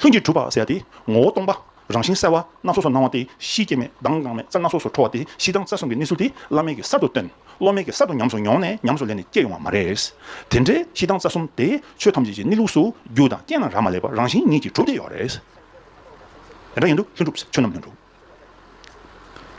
ལྷུན་གྱིས་གྲུབ་པར་ཟད་དེ། ངོ་བོ་སྟོང་པ། རང་བཞིན་གསལ་བ། སྣ་ཚོགས་སུ་སྣང་བ་སྟེ་གཤིས་སྐྱེ་མེད་གདངས་དངངས་མེད་རྩལ་སྣ་ཚོགས་སུ་འཕྲོ་བ་སྟེ་གཤིས་གདངས་རྩལ་གསུམ་གྱི་གནས་ཚུལ་དེ་བླ་མེད་ཀྱིས་གསར་དུ་སྟོན། བློ་མེད་ཀྱིས་གསར་དུ་ཉམས་སུ་མྱོང་ནས་ཉམས་སུ་ལེན་ནས་སྐྱེ་ཡོང་བ་མ་རེད། དེ་འདྲའི་གཤིས་གདངས་རྩལ་གསུམ་དེ་ཆོས་ཐམས་ཅད་ཀྱི་གནས་ལུགས་སུ་རྒྱུ་དང་རྐྱེན་རྣམས་རག་མ་ལས་པར་རང་བཞིན་ཉིད་ཀྱིས་གྲུབ་སྟེ་ཡོད་རེད། དེ་འདྲ་ཡིན་དུས་ལྷུན་གྲུབ་ཆོས་རྣམས་ལྷུན་གྲུབ།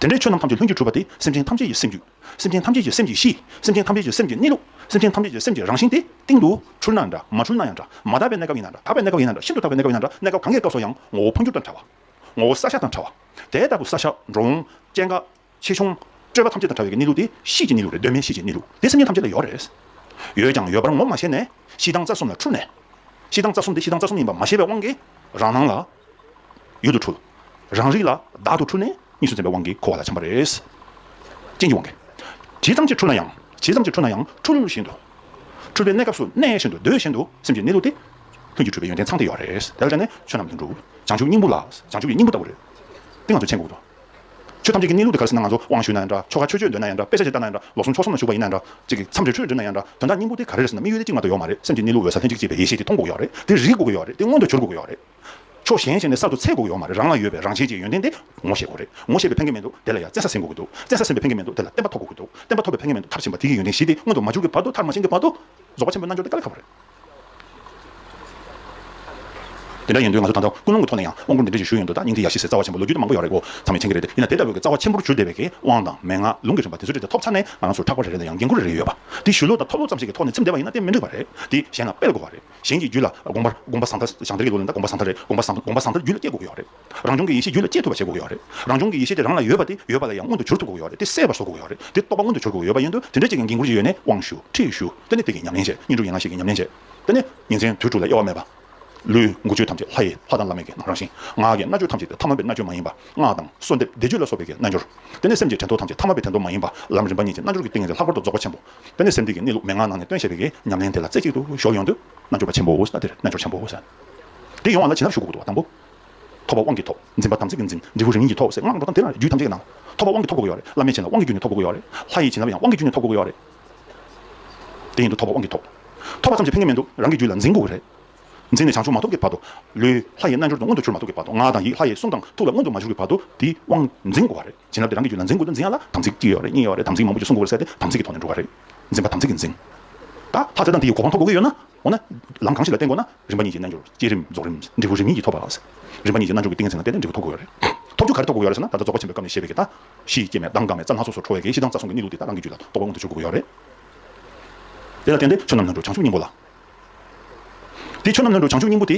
དེ་འདྲའི་ཆོས་རྣམས་ཐམས་ཅད་ལྷུན་གྱིས་གྲུབ་པ་དེ་སེམས་ཅན་ཐམས་ཅད་ཀྱི་སེམས་རྒྱུད། སེམས་ཅན་ཐམས་ཅད་ཀྱི་སེམས་ཀྱི་གཤིས། སེམས་ཅན་ཐམས་ཅད་ཀྱི་སེམས་ཀྱི་གནས་ལུགས། སེམས་ཅན་ཐམས་ཅད་ཀྱི་སེམས་ཀྱི་རང་བཞིན་དེ། སྟེང་དུ། འཁྲུལ་ན་འདྲ། མ་འཁྲུལ་ན་ཡང་འདྲ། མ་དག་པའི་གནས་སྐབས་ཡིན་ན་འདྲ། དག་པའི་གནས་སྐབས་ཡིན་ན་འདྲ། ཤིན་ཏུ་དག་པའི་གནས་སྐབས་ཡིན་ན་འདྲ། གནས་སྐབས་གང་གཱའི་སྐབས་སུ་ཡང། ངོ་བོ་འཕོ་འགྱུར་དང་བྲལ་བ། ངོ་བོ་ས་ཞག་དང་བྲལ་བ། དེ་ལྟ་བུ་ས་ཞག། འགྲོ་འོང། སྐྱེ་འགག། ཆེ་ཆུང། སྤྲོས་པ་ཐམས་ཅད་དང་བྲལ་བའི་གནས་ལུགས་དེ། གཤིས་ཀྱི་གནས་ལུགས་རེད་གདོད་མའི་གཤིས་ཀྱི་གནས་ལུགས་དེ་སེམས་ཅན་ཐམས་ཅད་ལ་ཡོད་རེད། ཡོད་ཀྱང་ཡོད་པར་ངོ་མ་ཤེས་ནས། གཤིས་དང་རྩ་གསུམ་ལ་འཁྲུལ་ནས། གཤིས་དང་རྩ་གསུམ་དེ་གཤིས་དང་རྩ་གསུམ་ཡིན་པ་མ་ཤེས་པའི་དབང་གིས། རང་སྣང་ལ། ཡུལ་དུ་འཁྲུལ། རང་རིག་ལ་བདག་ཏུ་འཁྲུལ་ནས་གཉིས་སུ་འཛིན་པའི་དབང་གིས་འཁོར་བ་ལ་འཁྱམས་པ་རེད། རྐྱེན་གྱི་དབང་གིས། ཇི་ཙམ་གྱིས་འཁྲུལ་ན་ཡང་ཇི་ཙམ་གྱིས་འཁྲུལ་ན་ཡང་འཁྲུལ་བཞིན་དུ། འཁྲུལ་པའི་གནས་སྐབས་སུ་གནས་བཞིན་དུ་སྡོད་བཞིན་དུ་སེམས་ཀྱི་གནས་ལུགས་ཏེ། ལྷུན་གྱིས་གྲུབ་པའི་ཡོན་ཏན་ཚང་དེ་ཡོད་རེད། དེ་ལ་སྤྱད་ནས་ཆོས་རྣམས་ལྷུན་གྲུབ། བྱང་ཆུབ་སྙིང་པོ་ལ་བྱང་ཆུབ་ཀྱི་སྙིང་པོ་ལྟ་བུ་རེད། དེ་ང་ཚོས་མཁྱེན་དགོས་འདུག། ཆོས་ཐམས་ཅད་ཀྱི་གནས་ལུགས་དེ་ག་རེ་ཟིན་ན་ང་ཚོ་དབང་ཞུས་ན་ཡང་འདྲ་ཆོ་ག་ཆོས་སྤྱོད་འདོད་ན་ཡང་འདྲ་དཔེ་ཆ་ཞིག་ལྟ་ན་ཡང་འདྲ་ལོ་ཟུང་ཕྱོགས་གསུམ་ན་ཞུགས་པ་ཡིན་ན་ཡང་འདྲ་ཅིག་མཚམས་རེ་ཆོས་སྒྲུབ་ན་ཡང་འདྲ་དོན་དག་སྙིང་པོ་དེ་ག་རེ་རེད་ཟིན་ན་མི་ཡུལ་དེ་གཅིག་མ་གཏོགས་ཡོད་མ་རེད་སེམས་ཀྱི་གནས་ལུགས་འོད་གསལ་ལྷན་ཅིག་སྐྱེས་པའི་ཡེ་ཤེས་དེ་སྟོང་དགོས་ཡོད་རེད་དེ་རིག་དགོས་ཡོད་རེད་དེ་མངོན་དུ་གྱུར་དགོས་ཡོད་རེད། ཕྱོགས་གཞན་ཞིག་ནས་གསར་དུ་ཚད་འགོག་ཡོང་བ་མ་རེད་རང་ལ་ཡོད་པའི་རང་བཞིན་གྱི་ཡོན་ཏན་དེ་ངོ་ཤེས་དགོས་རེད་ངོ་ཤེས་པའི་ཕན་ཁེ་མེད་འདུག་དེ་ལ་ཡང་བཙན་ས་ཟིན་དགོས་ཀྱི་འདུག་བཙན་ས་ཟིན་པའི་ཕན་ཁེ་མེད་འདུག་དེ་ལ་བསྟན་པ་ཐོབ་དགོས་ཀྱི་འདུག་བསྟན་པ་ཐོབ་པའི་ཕན་ཁེ་མེད་འདུག་མཐར་ཕྱིན་པ་དེ་གི་ཡོན་ཏན་བཞི་དེ་མངོན་དུ་མ་འགྱུར་གྱི་བར་དུ་མཐར་མ་ཕྱིན་གྱི་བར་དུ། རྫོགས་པ་ཆེན་པོའི་རྣལ་འབྱོར་དེ་དཀའ་ལས་ཁག་པོ་རེད། དེ་འདྲ་ཡིན་དུས་ང་ཚོ་ད་ལྟ་ཀུན་སློང་གི་ཐོག་ནས་ཡང་དབང་བསྐུར་འདི་འདྲ་ཞིག་ཞུས་ཡོད་འདུག་ད་སྙིང་ཐིག་ཡ་བཞི་ཟེར་རྩ་བ་ཆེན་པོ་ལོ་རྒྱུས་དེ་མང་པོ་ཡོད་རེད་གོ་ཚང་མས་མཁྱེན་གྱི་རེད་དེ་ཡིན་ན་དེ་ལྟ་བུའི་གི་རྩ་བ་ཆེན་པོར་གྱུར་བསྡད་པའི་གི་དབང་དང་མན་ངག་ལུང་གི་རིམ་པ་དེ་ཚོ་དེ་འདྲ་ཐོབ་ཚར་ནས་ང་རང་ཚོར་ཕྲག་པར་རེ་རེ་དང་ཡང་འགན་ཁུར་རེ་རེ་ཡོད་པ་དེ་ཞུ་ལོག་དང་ཐོབ་ལོག་ཙམ་ཞིག་གི་ཐོག་ནས་ཚིམ་བསྡད་པ་ཡིན་ན་དེ་མི་འགྲིག་པ་རེད་དེ་གཞན་ལ་སྤེལ་དགོས་བ་རེད། གཞན་གྱི་རྒྱུད་ལ་དགོངས་པར་དགོངས་པ་བཟང་ཐར་ཞང་དེར་གྱི་ལོ་ལོན་དང་དགོངས་པ་བཟང་ཐར་རེད་དགོངས་པ་བཟང་དགོངས་པ་བཟང་ཐར་རྒྱུད་ལ་སྐྱེ་དགོས་ཀྱི་ཡོད་རེད་རང་བྱུང་གི་ཡེ་ཤེས་རྒྱུད་ལ་སྐྱེ་ཐུབ་པ་བྱེད་དགོས་ཀྱི་ཡོད་རེད་རང་བྱུང་གི་ཡེ་ཤེས་དེ་རང་ལ་ཡོད་པ་དེ་ཡོད་པ་ལ་ཡང་མངོན་དུ་གྱུར་ཐུབ་དགོས་ཀྱི་ཡོད་རེད་དེ་གསལ་བར་བཟོ་དགོས་ཀྱི་ཡོད་རེད་དེ་རྟོགས་པ་མངོན་དུ་གྱུར་དགོས་ཀྱི་ཡོད་པ་ཡིན་དུས་དེ་འདྲ་ཅིག་གི་འགན་ཁུར་གྱི་ཡོད་ནས་དབང་ཞུ་ཁྲིད་ཞུ་དེ་ནི་དེ་གྱི་ཉམས་ལེན་བྱེད་གཉེན་སྒྲུབ་ཡན་ལག་ཞིག་གི་ཉམས་ལེན་བྱེད་དེ་ནི་ཉིན་མཚན་དུས་དྲུག་ལ་དབྱེ་བ་མེད་པ། ལུས་མགུ་ཆོས་ཐམས་ཅད་ལྷ་ཡི་ལྷ་དང་བླ་མེད་ཀྱི་རང་བཞིན་ངག་གི་རྣལ་འབྱོར་ཐམས་ཅད་དེ་ཐ་མལ་པའི་རྣལ་འབྱོར་མ་ཡིན་པ་སྔགས་དང་གསོལ་འདེབས་བཟླས་བརྗོད་ལ་སོགས་པའི་གྱི་རྣལ་འབྱོར་དེ་ནི་སེམས་ཀྱི་དྲན་ཐོ་ཐམས་ཅད་ཐ་མལ་པའི་དྲན་ཐོ་མ་ཡིན་པ་ལམ་རིམ་པ་ཉིད་ཀྱི་རྣལ་འབྱོར་གྱི་ཏིང་ངེ་འཛིན་ལྷག་པར་དུ་རྫོགས་པ་ཆེན་པོ། དེ་ནས་སེམས་གཏིང་གི་གནས་ལུགས་མན་ངག་ནང་ནས་སྟོན་བྱས་པའི་གེ་ཉམས་ལེན་དེ་ལ་རྩེ་གཅིག་ཏུ་གཞོག་ཡོང་དུས། རྣལ་འབྱོར་པ་ཆེན་པོ་འོད་ཟེར་དེར་རྣལ་འབྱོར་ཆེན་པོ་ཟེར། དེ་ཡོང་བ་ལ་བྱིན་རླབས་ཞུགས་དགོས་དགོས་དང་པོ། ཐོབ་པ་དབང་གིས་ཐོབ། འཛིན་པ་དམ་ཚིག་གིས་འཛིན། འབྲས་བུ་རིམ་གཉིས་ཀྱིས་ཐོབ་ཟེར་སྔགས་འགྲོ་སྟངས་དེ་ལ་རྒྱུད་ཐམས་ཅད་ཀྱི་ནང། ཐོབ་པ་དབང་གིས་ཐོབ་དགོས་ཀྱི་ཡོད་རེད། བླ་མས་བྱིན་ལ་དབང་གིས་རྒྱུད་ནས་ཐོབ་དགོས་ཀྱི་ཡོད་རེད། ལྷ་ཡིས་བྱིན་ལབ་ཡང་དབང་གིས་རྒྱུད་ནས་ཐོབ་དགོས་ཀྱི་ཡོད་རེད། དེ་ཡིན་དུས་ཐོབ་པ་དབང་གིས་ཐོབ། ཐོབ་པ་ཙམ་གྱིས་ཕན་གྱི་མི་འདུག་རང་གི་རྒྱུད་ལ་འཛིན་དགོས་ཀྱི་རེད། འཛིན་ནས་བྱང་ཆུབ་མ་ཐོབ་ཀྱི་བར་དུ། ལུས། ལྷ་ཡི་རྣལ་འབྱོར་དུ་མངོན་དུ་གྱུར་མ་ཐུབ་ཀྱི་བར་དུ་ངག་དང་ཡིད་ལྷ་ཡི་གསུང་དང་ཐུགས་ལ་མངོན་དུ་མ་གྱུར་གྱི་བར་དུ། དེའི་དབང། འཛིན་དགོས་པ་རེད། བྱིན་རླབས་དེ་རང་གི་རྒྱུད་ལ་འཛིན་དགོས་དོན་འཛིན་ཡ་ལ་དམ་ཚིག་གཅིག་ཡོད་རེད་གཉིས་ཡོད་རེད་དམ་ཚིག་མང་པོ་ཞིག་སྲུང་དགོས་པ་རེད་ཟེར་ཏེ་དམ་ཚིག་གི་ཐོག་ནས་འགྲོ་ག་རེད། འཛིན་པ་དམ་ཚིག་གིས་འཛིན། ད་ལྷ་རྩེ་དང་དེ་ཡི་གོ་འཕང་ཐོབ་དགོས་ཡོད་ན། འོ་ན། ལམ་གང་ཞིག་ལ་བརྟེན་དགོས་ན། རིམ་པ་གཉིས་ཀྱི་རྣལ་འབྱོར་བསྐྱེད་རིམ་རྫོགས་རིམ་འབྲས་བུ་རིམ་གཉིས་ཀྱིས་ཐོབ་པ། རིམ་པ་གཉིས་ཀྱི་རྣལ་འབྱོར་གྱི་ཏིང་ངེ་འཛིན་ལ་བརྟེན་ནས་འབྲས་བུ་ཐོབ་དགོས་ཡོད་རེད། ཐོབ་རྒྱུ་ག་རེ་ཐོབ་དགོས་ཡོད་རེད་ཟེར་ན་ད་ལྟ་རྫོགས་པ་ཆེན་པོའི་སྐབས་ནས་བཤད་པའི་གྱི་དང། གཞི་སྐྱེ་མེད་མདངས་དག་མེད་རྩ་ལྷ་སོ་སོར་འཕྲོ་བའི་གྱི་གཞི་གདངས་རྩ་གསུམ་གྱི་གནས་ལུགས་དེ་དག་རང་གི་རྒྱུད་ལ་རྟོགས་པ་མངོན་དུ་འགྱུར་དགོས་ཡོད་རེད། དེ་ལ་བརྟེན་ཏེ་ཆོས་རྣམས་རྣལ་འབྱོར་བྱང་ཆུབ་སྙིང་པོ་ལ། དེ་ཆོས་རྣམས་རྣལ་འབྱོར་བྱང་ཆུབ་སྙིང་པོ་དེ།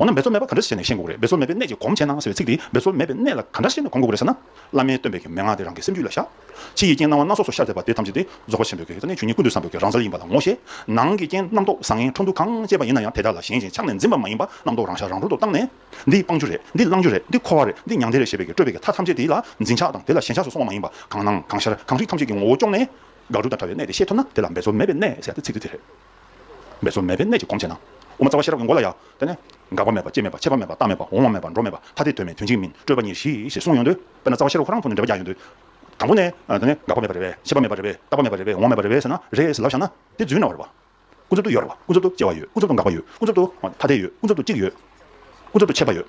འོ་ན་འབད་རྩོལ་མེད་པ་ག་འདྲ་བྱས་ནས་གཞན་འགུགས་རེད་འབད་རྩོལ་མེད་པའི་གནད་ཀྱིས་གོམས་བྱས་ན་ཟེར་བའི་ཚིག་འདིས་འབད་རྩོལ་མེད་པའི་གནད་ལ་ག་འདྲ་བྱས་ནས་གོམས་འགུགས་རེད་ཟེར་ན། བླ་མའི་སྟོན་པའི་གྱི་མན་ངག་དེ་རང་གི་སེམས་རྒྱུད་ལ་བཞག། ཕྱི་ཡི་རྐྱེན་སྣང་བ་སྣ་ཚོགས་སུ་ཤར་བསྡད་པ་དེ་ཐམས་ཅད་དེ་རྫོགས་པ་ཆེན་པོའི་གྱི་རྩ་ནི་ཆོས་ཉིད་ཀུན་ཏུ་བསམ་པའི་གྱི་རང་རྩལ་ཡིན་པ་ལ་ངོ་ཤེས། ནང་གི་རྐྱེན་རྣམ་རྟོག་བཟང་ངན་འཕྲོ་འདུ་གང་སྐྱེས་པ་ཡིན་ན་ཡང་དེ་དག་ལ་གཞན་གཞན་ཆགས་ནས་འཛིན་པ་མ་ཡིན་པ་རྣམ་རྟོག་རང་ཤར་རང་གྲོལ་དུ་བཏང་ནས། འདི་སྤང་རྒྱུ་རེད་འདི་བླང་རྒྱུ་རེད་འདི་འཁོར་བ་རེད་འདི་མྱང་འདས་རེད་ཞེས་པའི་གྱི་སྤྲོས་པའི་གྱི་མཐའ་ཐམས་ཅད་དེ་ལ་འཛིན་ཆགས་དང་དེ་ལ་ཞེན་ཆགས་སུ་སོང་བ་མ་ཡིན་པ་གང་སྣང་གང་ཤར་གང་རིག་ཐམས་ཅད་ཀྱི་ངོ་བོ་བཅོམ་ནས། དགག་སྒྲུབ་དང་བྲལ་བའི་གནད་དེ་ཤེས་ཐུབ་ན་དེ་ལ་འབད་རྩོལ་མེད་པའི་གནད་ཟེར་བ་དེ་ཚིག་འདི་དེ་རེད། མེད་གཟུགས་མེད་པའི་གནད་ཀྱིས་གོམས་བྱས་ན། དབུ་མ་རྩ་བ་ཤེས་རབ་ཀྱི་མགོ་ལ་ཡང། དེ་ནས། འགག་པ་མེད་པ་སྐྱེ་མེད་པ་མཆེད་པ་མེད་པ་རྟག་མེད་པ་འོང་བ་མེད་པ་འགྲོ་མེད་པ་ཐ་དད་དོན་མེད་དོན་གཅིག་མིན་སྤྲོས་པ་ཉིད་ཞི་ཞེས་གསུངས་ཡོང་དུས། དཔེར་ན་རྩ་བ་ཤེས་རབ་ཁོ་རང་ཁོ་ནས་འབྲེལ་བ་རྒྱག་ཡོང་དུས། དང་པོ་ནས། དེ་ནས་འགག་པ་མེད་པ་རེད་བས་མཆེད་པ་མེད་པ་རེད་བས་རྟག་པ་མེད་པ་རེད་བས་འོང་བ་མེད་པ་རེད་བས་ཟེར་ན། རེད་ཟེར་ལབ་བཞག་ན། དེ་རྫུན་རྣ་བ་རེད་བ། ཀུན་རྫོབ་ཏུ་ཡོད་རེད་བ་ཀུན་རྫོབ་ཏུ་སྐྱེ་བ་ཡོད་ཀུན་རྫོབ་ཏུ་འགག་པ་ཡོད་ཀུན་རྫོབ་ཏུ་ཐ་དད་ཡོད་ཀུན་རྫོབ་ཏུ་གཅིག་ཡོད་ཀུན་རྫོབ་ཏུ་མཆེད་པ་ཡོད།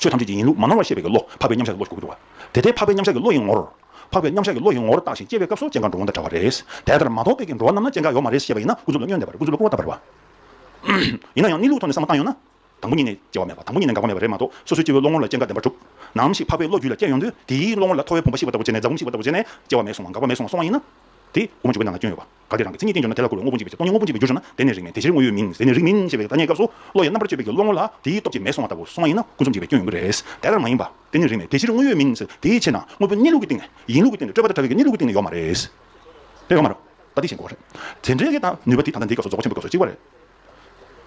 ཆོས་ཐམས་ཅད་ཀྱི་ཡིན་ལུགས་མ་ནོར་བར་ཤེས་པའི་བློ་འཕགས་པའི་མཉམ་བཞག་གི་བློ་ཞིག་གོ་དགོས་འདུག་ག། དེ་ལྟའི་འཕགས་པའི་མཉམ་བཞག་གི་བློ་ཡི་ངོར། འཕགས་པའི་མཉམ་བཞག་གི་བློ་ཡི་ངོར་བཏགས་ཤིང་སྐྱེ་བའི་སྐབས་སུ་སྐྱེ་འགག་འགྲོ་འོང་དང་འདྲ་བ་རེད། དེ་ལྟར་མ་རྟོགས་པའི་གྱི་འགྲོ་བ་རྣམས་ན་སྐྱེ་འགག་ཡོད་མ་རེད་ཤེས་པ་ཡིན་ན་ཀུན་རྫོབ་ལ་བསྙོན་འདེབས་པར་ཀུན་རྫོབ་ལ་བསྐོར་བ་ལྟ་བུ་རེད་བ། ཡིན་ན་ཡང་གནས་ལུགས་ཐོག་ནས་བསམ་བློ་བཏང་ཡོང་ན། དང་པོ་ཉིད་ནས་སྐྱེ་བ་མེད་པ་དང་པོ་ཉིད་ནས་འགག་པ་མེད་པ་རེད་མ་གཏོགས་སོ་སོའི་སྐྱེ་བོའི་བློ་ངོར་ལ་སྐྱེ་འགག་བདེན་པར་གྲུབ། ནའང་མཆིས་འཕགས་པའི་བློ་རྒྱུད་ལ་སྐྱེ་ཡོང་དུས་དེའི་བློ་ངོར་ལ་ཐོ་བའི་བུམ་པ་བཤིག་པ་ལྟ་བུ་བྱས་ནས་སྐྱེ་བ་མེད་སོང་བ་འགག་པ་མེད་སོང་བ་སོང་བ་ཡིན་ན། དེ་དབུ་མ་འཇུག་པའི་ནང་ན་སྐྱོན་ཡོད་པ། གལ་ཏེ་རང་གི་མཚན་ཉིད་བསྟན་འགྱུར་ན་དེ་ལ་གོ་བའི་དངོས་པོ་འཇིག་པའི་ཚེ་ཀོ་ཉའི་དངོས་པོ་འཇིག་པའི་རྒྱུ་ཞུགས་ན་དེ་ནི་རིགས་མེད་དེ་ཕྱིར་དངོས་ཡོད་མིན་ཟེར་ནས་རིགས་མིན་ཞེས་པའི་ཐ་སྙད་སྐབས་སུ་བློ་ཡང་རྣམ་པར་དཔྱོད་པའི་རྒྱུ་བློ་ངོ་ལ་དེའི་སྟོབས་ཀྱིས་མེད་སོང་བ་ལྟ་བུ་སོང་བ་ཡིན་ན་ཀུན་རྫོབ་འཇིག་པའི་སྐྱོན་ཡོང་གི་རེད། དེ་ལྟར་མ་ཡིན་པ་དེ་ནི་རིགས་མེད་དེ་ཕྱིར་དངོས་ཡོད་མིན་ཟེར་དེའི་ཕྱིར་ན་དངོས་པོ་གཉིས་ལུགས་ཀྱི་སྟེང་ནས་ཡིན་ལུགས་ཀྱི་སྟེང་ནས་སྤྲོས་པ་དང་བྲལ་བའི་གཉིས་ལུགས་ཀྱི་སྟེང་ནས་ཡོད་མ་རེད། རེད་ཡོད་མ་རེད། ད་དེ་བཞིན་གོ། རེད། དེ་འདྲའི་ནུས་པ་དེ་ད་ལྟ་འདིའི་སྐབས་སུ་རྫོགས་ཆེན་པོའི་སྐབས་སུ་གཅིག་པ་རེད།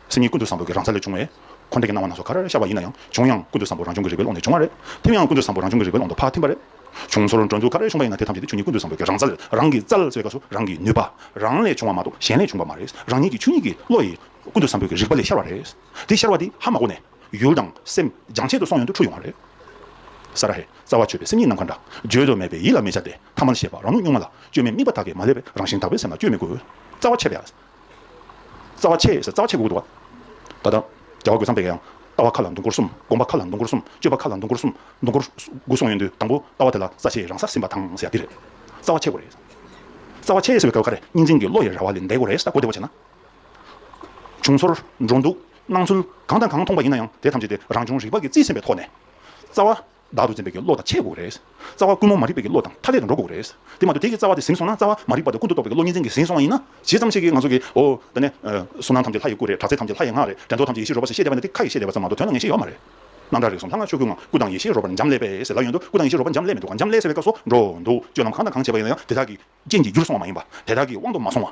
སེམས་ཉིད་ཀུན་ཏུ་བཟང་པོ་གི་རང་ས་ལས་བྱུང་བས། འཁོར་འདས་ཀྱི་སྣང་བ་སྣ་ཚོགས་ག་རེ་ཤར་བ་ཡིན་ན་ཡང་བྱུང་ཡང་ཀུན་ཏུ་བཟང་པོ་རང་བྱུང་གི་རིག་པའི་ཀློང་ནས་བྱུང་བ་རེད། ཐིམ་ཡང་ཀུན་ཏུ་བཟང་པོ་རང་བྱུང་གི་རིག་པའི་ཀློང་དུ་ཕར་ཐིམ་པ་རེད། བྱུང་ཚོར་འགྲོ་འདུག་ག་རེ་བྱུང་བ་ཡིན་ན་དེ་ཐམས་ཅད་དེ་ཆོས་ཉིད་ཀུན་ཏུ་བཟང་པོ་གི་རང་ས་ལས་རང་གིས་རྩལ་ཟེར་བ་སོགས་རང་གི་ནུས་པ་རང་ལས་བྱུང་བ་མ་གཏོགས་གཞན་ལས་བྱུང་བ་མ་རེད། རང་ཉིད་ཀྱི་ཆོས་ཉིད་ཀྱི་བློ་ཡིས་ཀུན་ཏུ་བཟང་པོ་གི་རིག་པ་ལས་ཤར་བ་རེད། དེ་ཤར་བ་དེ་ཧ་མ་གོ་ནས། ཡུལ་དང་སེམས་སྦྱང་བྱེད་དུ་སོང་ཡོང་དུ་འཁྲུལ་ཡོང་བ་རེད། ས་ར་ཧེ། རྩ་བ་ཆོད་པའི་སེམས་ཉིད་ནམ་མཁའ་འདྲ། བརྗོད་དུ་མེད་པའི་ཡིད་ལ་མི་བྱ་སྟེ། ཐ་མལ་ཤེས་པ་རང་ལུགས་གཉུག་མ་ལ། བཅོས་མའི་དམིགས་པ་དག་གིས་མ་བསླད་པའི་རང་བཞིན་དག་པའི་སེམས་ལ་བཅོས་མི་དགོས། རྩ་བ་ཆད་པའི། རྩ་བ་ཆེས་སེར་རྩ་བ་ཆེས་གུ་གུ་དུ་བ། ད་དང། རྒྱལ་བ་རྒོད་ཚང་པས་ཀྱང། ལྟ་བ་ཁ་ལ་འདུ་འགོར་གསུམ་སྒོམ་པ་ཁ་ལ་འདུ་འགོར་གསུམ་སྤྱོད་པ་ཁ་ལ་འདུ་འགོར་གསུམ་འདུ་འགོར། དགུ་གསུངས་ཡོད་འདུག་དང་པོ་ལྟ་བ་དེ་ལ་རྩ་ཆེས་རང་སར་ཟིན་པ་དང་ཟེར་ཡ་འདི་རེད། རྩ་བ་ཆེས་གོ་རེད། རྩ་བ་ཆེས་ཟེར་བའི་སྐབས་ཁ་རེ་གཉིས་འཛིན་གྱི་བློ་ཡི་ར་བ་ལས་འདས་གོ་རེད་ད་གོ་བདེ་བོ་བྱས་ན། བྱུང་ཚོར། འགྲོ་འདུག། སྣང་ཚུལ། གང་དང་གང་མཐོང་པ་ཡིན་ན་ཡང་དེ་ཐམས་ཅད་དེ་རང་བྱུང་རིག་པ་ཀྱི་རྩིས་ཟིན་པའི་ཐོག་ནས། རྩ་བ། བདག་ཏུ་འཛིན་པའི་གྱི་བློ་དང་ཆས་དགོས་རེད། རྩ་བ་ཀུན་རྨོངས་མ་རིག་པའི་གྱི་བློ་དང་མཐའ་ཀླས་དུ་འགྲོ་དགོས་རེད། དེ་མ་གཏོགས་དེ་གྱི་རྩ་བ་དེ་ཟིན་སོང་ན་རྩ་བ་མ་རིག་པ་དེ་ཀུན་ཏུ་རྟོག་པའི་གྱི་བློ་གཉིས་འཛིན་གྱི་ཟིན་སོང་བ་ཡིན་ན། བྱས་ཙམ་ཤེས་ཀྱི་ང་ཚོ་གྱི་འོ། ད་ནས། གསུང་སྣང་ཐམས་ཅད་ལྷ་ཡི་སྐུ་རེད་དྲག་རྩལ་ཐམས་ཅད་ལྷ་ཡི་ངག་རེད་དྲན་རྟོག་ཐམས་ཅད་ཡེ་ཤེས་རོལ་པ་ཟེར་བཤད་བསྡད་པ་ནི་དེ་ཁ་ཡི་བཤད་བསྡད་པ་ཙམ་མ་གཏོགས་དོན་ལ་ངེས་ཤེས་ཡོད་མ་རེད། རྣམ་གྲངས་རིགས་གསུམ་ལྷ་ང་ཆོས་སྐུ་ངང་སྐུ་དང་ཡེ་ཤེས་རོལ་པར་འབྱམས་ཀླས་པས་ཟེར་ལབ་ཡོད་འདུག་སྐུ་དང་ཡེ་ཤེས་རོལ་པར་འབྱམས་ཀླས་ཟེར་བའི་སྐབས་སོགས་འགྲོ་འདུག་སྤྱོད་ལམ་གང་དང་གང་བྱས་པ་ཡིན་ན་ཡང་དེ་དག་གི་རྐྱེན་གྱིས་རྒྱུར་སོང་བ་མ་ཡིན་པ། དེ་དག་གིས་དབང་དུ་མ་སོང་བ།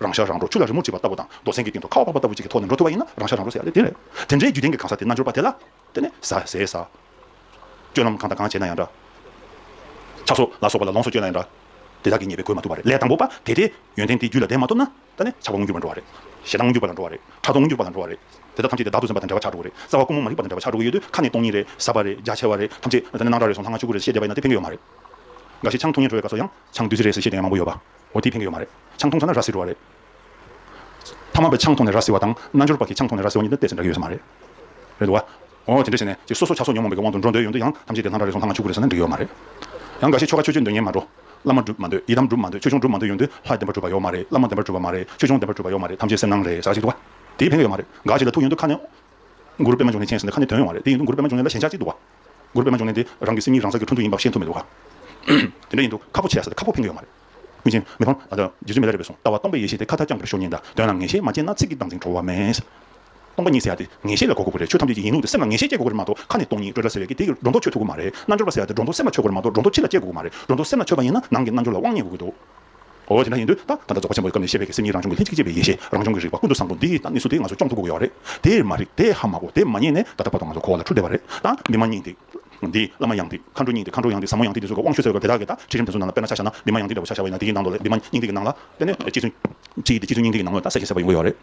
རང་ཤ་རང་བྲོ་ཆུ་ལ་རི་མོར་བྲིས་པ་ལྟ་བུ་དང་རྡོ་སེང་གི་སྟེང་དུ་ཁ་བ་བབས་པ་ལྟ་བུ་གཅིག་གི་ཐོག་ནས་འགྲོ་ཐུབ་པ་ཡིན་ན་རང་ཤ་རང་བྲོ་ཟེར་ཡ་ལེ་དེ་རེད། དེ་འདྲའི་རྒྱུ་ལྡན་གྱི་གང་ཟག་དེ་རྣལ་འབྱོར་པ་དེ་ལ། དེ་ནི་ཟ། ཟས་ཟ། སྤྱོད་ལམ་གང་དང་གང་བྱས་ན་ཡང་འདྲ། ཆགས་སོ། ལ་སོགས་པ་ལ་ལོངས་སུ་སྤྱོད་ན་ཡང་འདྲ། དེ་དག་གིས་ཉེས་པའི་གོས་མ་ཐུབ་པ་རེད། ལས་དང་པོ་པ་དེ་དེ། ཡོན་ཏན་དེ་རྒྱུད་ལ་ལྡན་མ་ཐུབ་ན། ད་ནི་ཆགས་པ་མངོན་གྱུར་པར་འགྲོ་བ་རེད། ཞེ་སྡང་མངོན་གྱུར་པ་ལ་འགྲོ་བ་རེད། ཕྲག་དོག་མངོན་གྱུར་པ་ལ་འགྲོ་བ་རེད། དེ་དག་ཐམས་ཅད་དེ་བདག་ཏུ་སེམས་པ་དང་བྲལ་བ་ཆགས་འགྲོ་གི་རེད། རྩ་བ་ཀུན་མོ་མ་རིག་པ་དང་བྲལ་བ་ཆགས་འགྲོ་གི་ཡོད་དུས་ཁ་ནས་སྟོང་ཉིད་རེད། ཟབ་པ་རེད། རྒྱ་ཆེ་བ་རེད། ཐམས་ཅད། ད་ནི་སྣང་གྲགས་རེ་སོང་ལྷག་མ་ཆུ་ཁུར་རེ་བཞིན་ཤེས་བསྡད་པ་ཡིན་ན་དེ་ཕན་གི་ཡོད་མ་རེད། འགའ་ཞིག་ཆང་འཐུང་ཉེན་བྲོ་བའི་སྐབས་སུ་ཡང། ཆང་བདུད་རྩི་རེད་ཟེར་ཤེས་མཁན་མང་པོ་ཡོད་པ་འོ་དེས་ཕན་གི་ཡོད་མ་རེད་ཆང་འཐུང་ས་ན་ར་བཟི་འགྲོ་བ་རེད། ཕ་མ་པའི་ཆང་འཐུང་ནས་ར་བཟི་བ་དང་རྣལ་འབྱོར་པ་གིས་ཆང་འཐུང་ནས་ར་བཟི་བ་གཉིས་ནི་གཏད་ཚེ་འདྲ་གི་ཡོད་ས་མ་རེད། རེད་འདུག་ག། འོ་དེ་འདྲ་བྱས་ནས་ཀྱི་སོ་སོ་ཆགས་སོ་ཉོན་མོངས་པའི་གི་དབང་དུ་འགྲོ་འདོད་ཡོད་འདུག་ཡང་ཐམས་ཅད་དེ་ལྷ་འདྲ་རེ་ཟུང་ལྷ་ང་ཕྱུག་པོ་རེ་ཟེར་ན་འགྲིག་གི་ཡོད་མ་རེད། ཡང་འགའ་ཤས་ཆོ་ག་ཆོས་སྤྱོད་འདོད་ངེས་མ་འགྲོ། བླ་མ་སྒྲུབ་མ་འདོད་ཡི་དམ་སྒྲུབ་མ་འདོད་ཆོས་སྐྱོང་སྒྲུབ་མ་འདོད་ཡོད་འདུག་ལྷ་བདེན་པ་སྒྲུབ་པ་ཡོད་མ་རེད་བླ་མ་བདེན་པ་སྒྲུབ་པ་མ་རེད་ཆོས་སྐྱོང་བདེན་པ་སྒྲུབ་པ་ཡོད་མ་རེད་ཐམས་ཅད་སེམས་སྣང་རེད་ཟེར་བ་ཞིག་འདུག་ག། དེས་ཕན་གི་ཡོད་མ་རེད་འགའ་ཞིག་ལ་ཐུགས་ཡོན་འདུག་ཁ་ནས། མགུར་པད་མ་འབྱུང་ནས་མཁྱེན་ཟེར་ནས་ཁ་ནས་དོན་ཡོད་མ་རེད་དེ་ཡིན་འདུག་མགུར་པད་མ་འབྱུང་ནས་ལ་ཞེན་ཆགས་ཅིག་འདུག་ག། སྒུར་པད་མ་འབྱུང་གནས་དེ་རང་གི་སེམས་ཉིད་རང་ས་ཀྱི་འཕྲོ་འདུ་ཡིན་པ་ཤེས་ཐུབ་མི་འདུག་ག། དེ་འདྲ་ཡིན་དུས་ཁ་ཕོ་ཆེ་ཡ་ས་དེ་ཁ་ཕོ་འཕེན་གི་ཡོད་མ་རེད། མི་ཆེན། མི་ཕམ། རྗེ་བཙུན་མི་ལ་རས་པས་གསུངས་ལྟ་བ་སྟོང་པའི་ཡེ་ཤེས་དེ་ཁ་ཐག་རྐྱང་པར་ཤོར་ཉིན་དང་དོན་ལ་ངེས་ཤེས་མ་སྐྱེས་ན་ཚིག་གི་སྟངས་འཛིན་འཕྲོ་བ་མེད། སྟོང་པ་ཉིད་ཟེར་ཡ་དེ་ངེས་ཤེས་ལ་གོ་དགོས་པ་རེད་ཆོས་ཐམས་ཅད་ཀྱི་ཡིན་ལུགས་དེ་སེམས་ལ་ངེས་ཤེས་སྐྱེ་དགོས་ཀྱི་རེད་མ་གཏོགས་ཁ་ནས་སྟོང་ཉིད་སྤྲོས་འདྲ་ཟེར་བའི་གི་དེ་སྒྲོ་འདོགས་ཆོད་ཐུབ་ཀྱི་མ་རེད་རྣལ་འབྱོར་པ་ཟེར་ཡ་དེ་སྒྲོ་འདོགས་སེམས་ལ་སྐྱེ་དགོས་ཀྱི་མ་རེད་སྒྲོ་འདོགས་སེམས་ལ་ཆོད་པ་ཡིན་ན་ནང་གི་རྣལ་འབྱོར་ལ་དབང་བརྙེས་དགོས་ཀྱི་འདུག། ཨོ་དེ་འདྲ་ཡིན་དུས་ད་ད་ལྟ་རྫོགས་པ་ཆེན་པོའི་སྐབས་ནས་ཤེས་བྱ་ཀྱི་སེམས་ཉིད་རང་བྱུང་གི་ལྷན་ཅིག་སྐྱེས་པའི་ཡེ་ཤེས་རང་བྱུང་གི་རིག་པ་ཀུན་ཏུ་བཟང་པོ་འདི་ད་ནི་སུ་དེས་ང་ཚོ་སྐྱོང་ཐུབ་དགོས་ཀྱི་ཡོད་རེད་དེ་མ་རེད་དེ་ཧ་མ་གོ་དེ་མ་རྙེད་ནས་ད་ལྟ་བར་དུ་ང་ཚོ་ཁོ་བོ་ལ་འཁྲུལ་བསྡད་པ་རེད་ད་མི་མ་རྙེད་འདི་འདི་བླ་མ་ཡང་འདི་མཁའ་འགྲོ་རྙེད་འདི་མཁའ་འགྲོ་ཡང་འདི་ཟབ་མོ་ཡང་འདི་འདི་ཚོ་ཀ་དབང་ཤུལ་ཟེར་བ་དེ་དག་གིས་ད་ཁྲིད་རིམ་དེ་ཚོ་ནང་ལ་དཔེར་ན་ཆ་བྱ་ན་མི་མ་ཡང་འདི་འདྲ་བོ་ཆ་བྱ་བ་ཡིན་ན་འདི་གི་ནང་དུ་ལས་འདི་མ་རྙེད་འདི་གི་ནང་ལ་དེ་ནི་གཅིག་ཚུན་གཅིག་གིས་འདི་གཅིག་ཚུན་གཉིས་འདི་གི་ནང་ལོ་ད་གསལ་བྱེད་གསལ་བ་ཡོད་དགོས་ཡོད་རེད་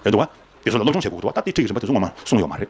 ཡོད་འདུག་བ། དེ་ཚོ་ལ་སློབ་སྦྱོང་བྱེད་དགོས་འདུག་བ་ད་དེ་ཁྲིད་ཀྱི་རིམ་པ་དེ་ཚོ་ངོ་མ་གསུངས་ཡོད་མ་རེད།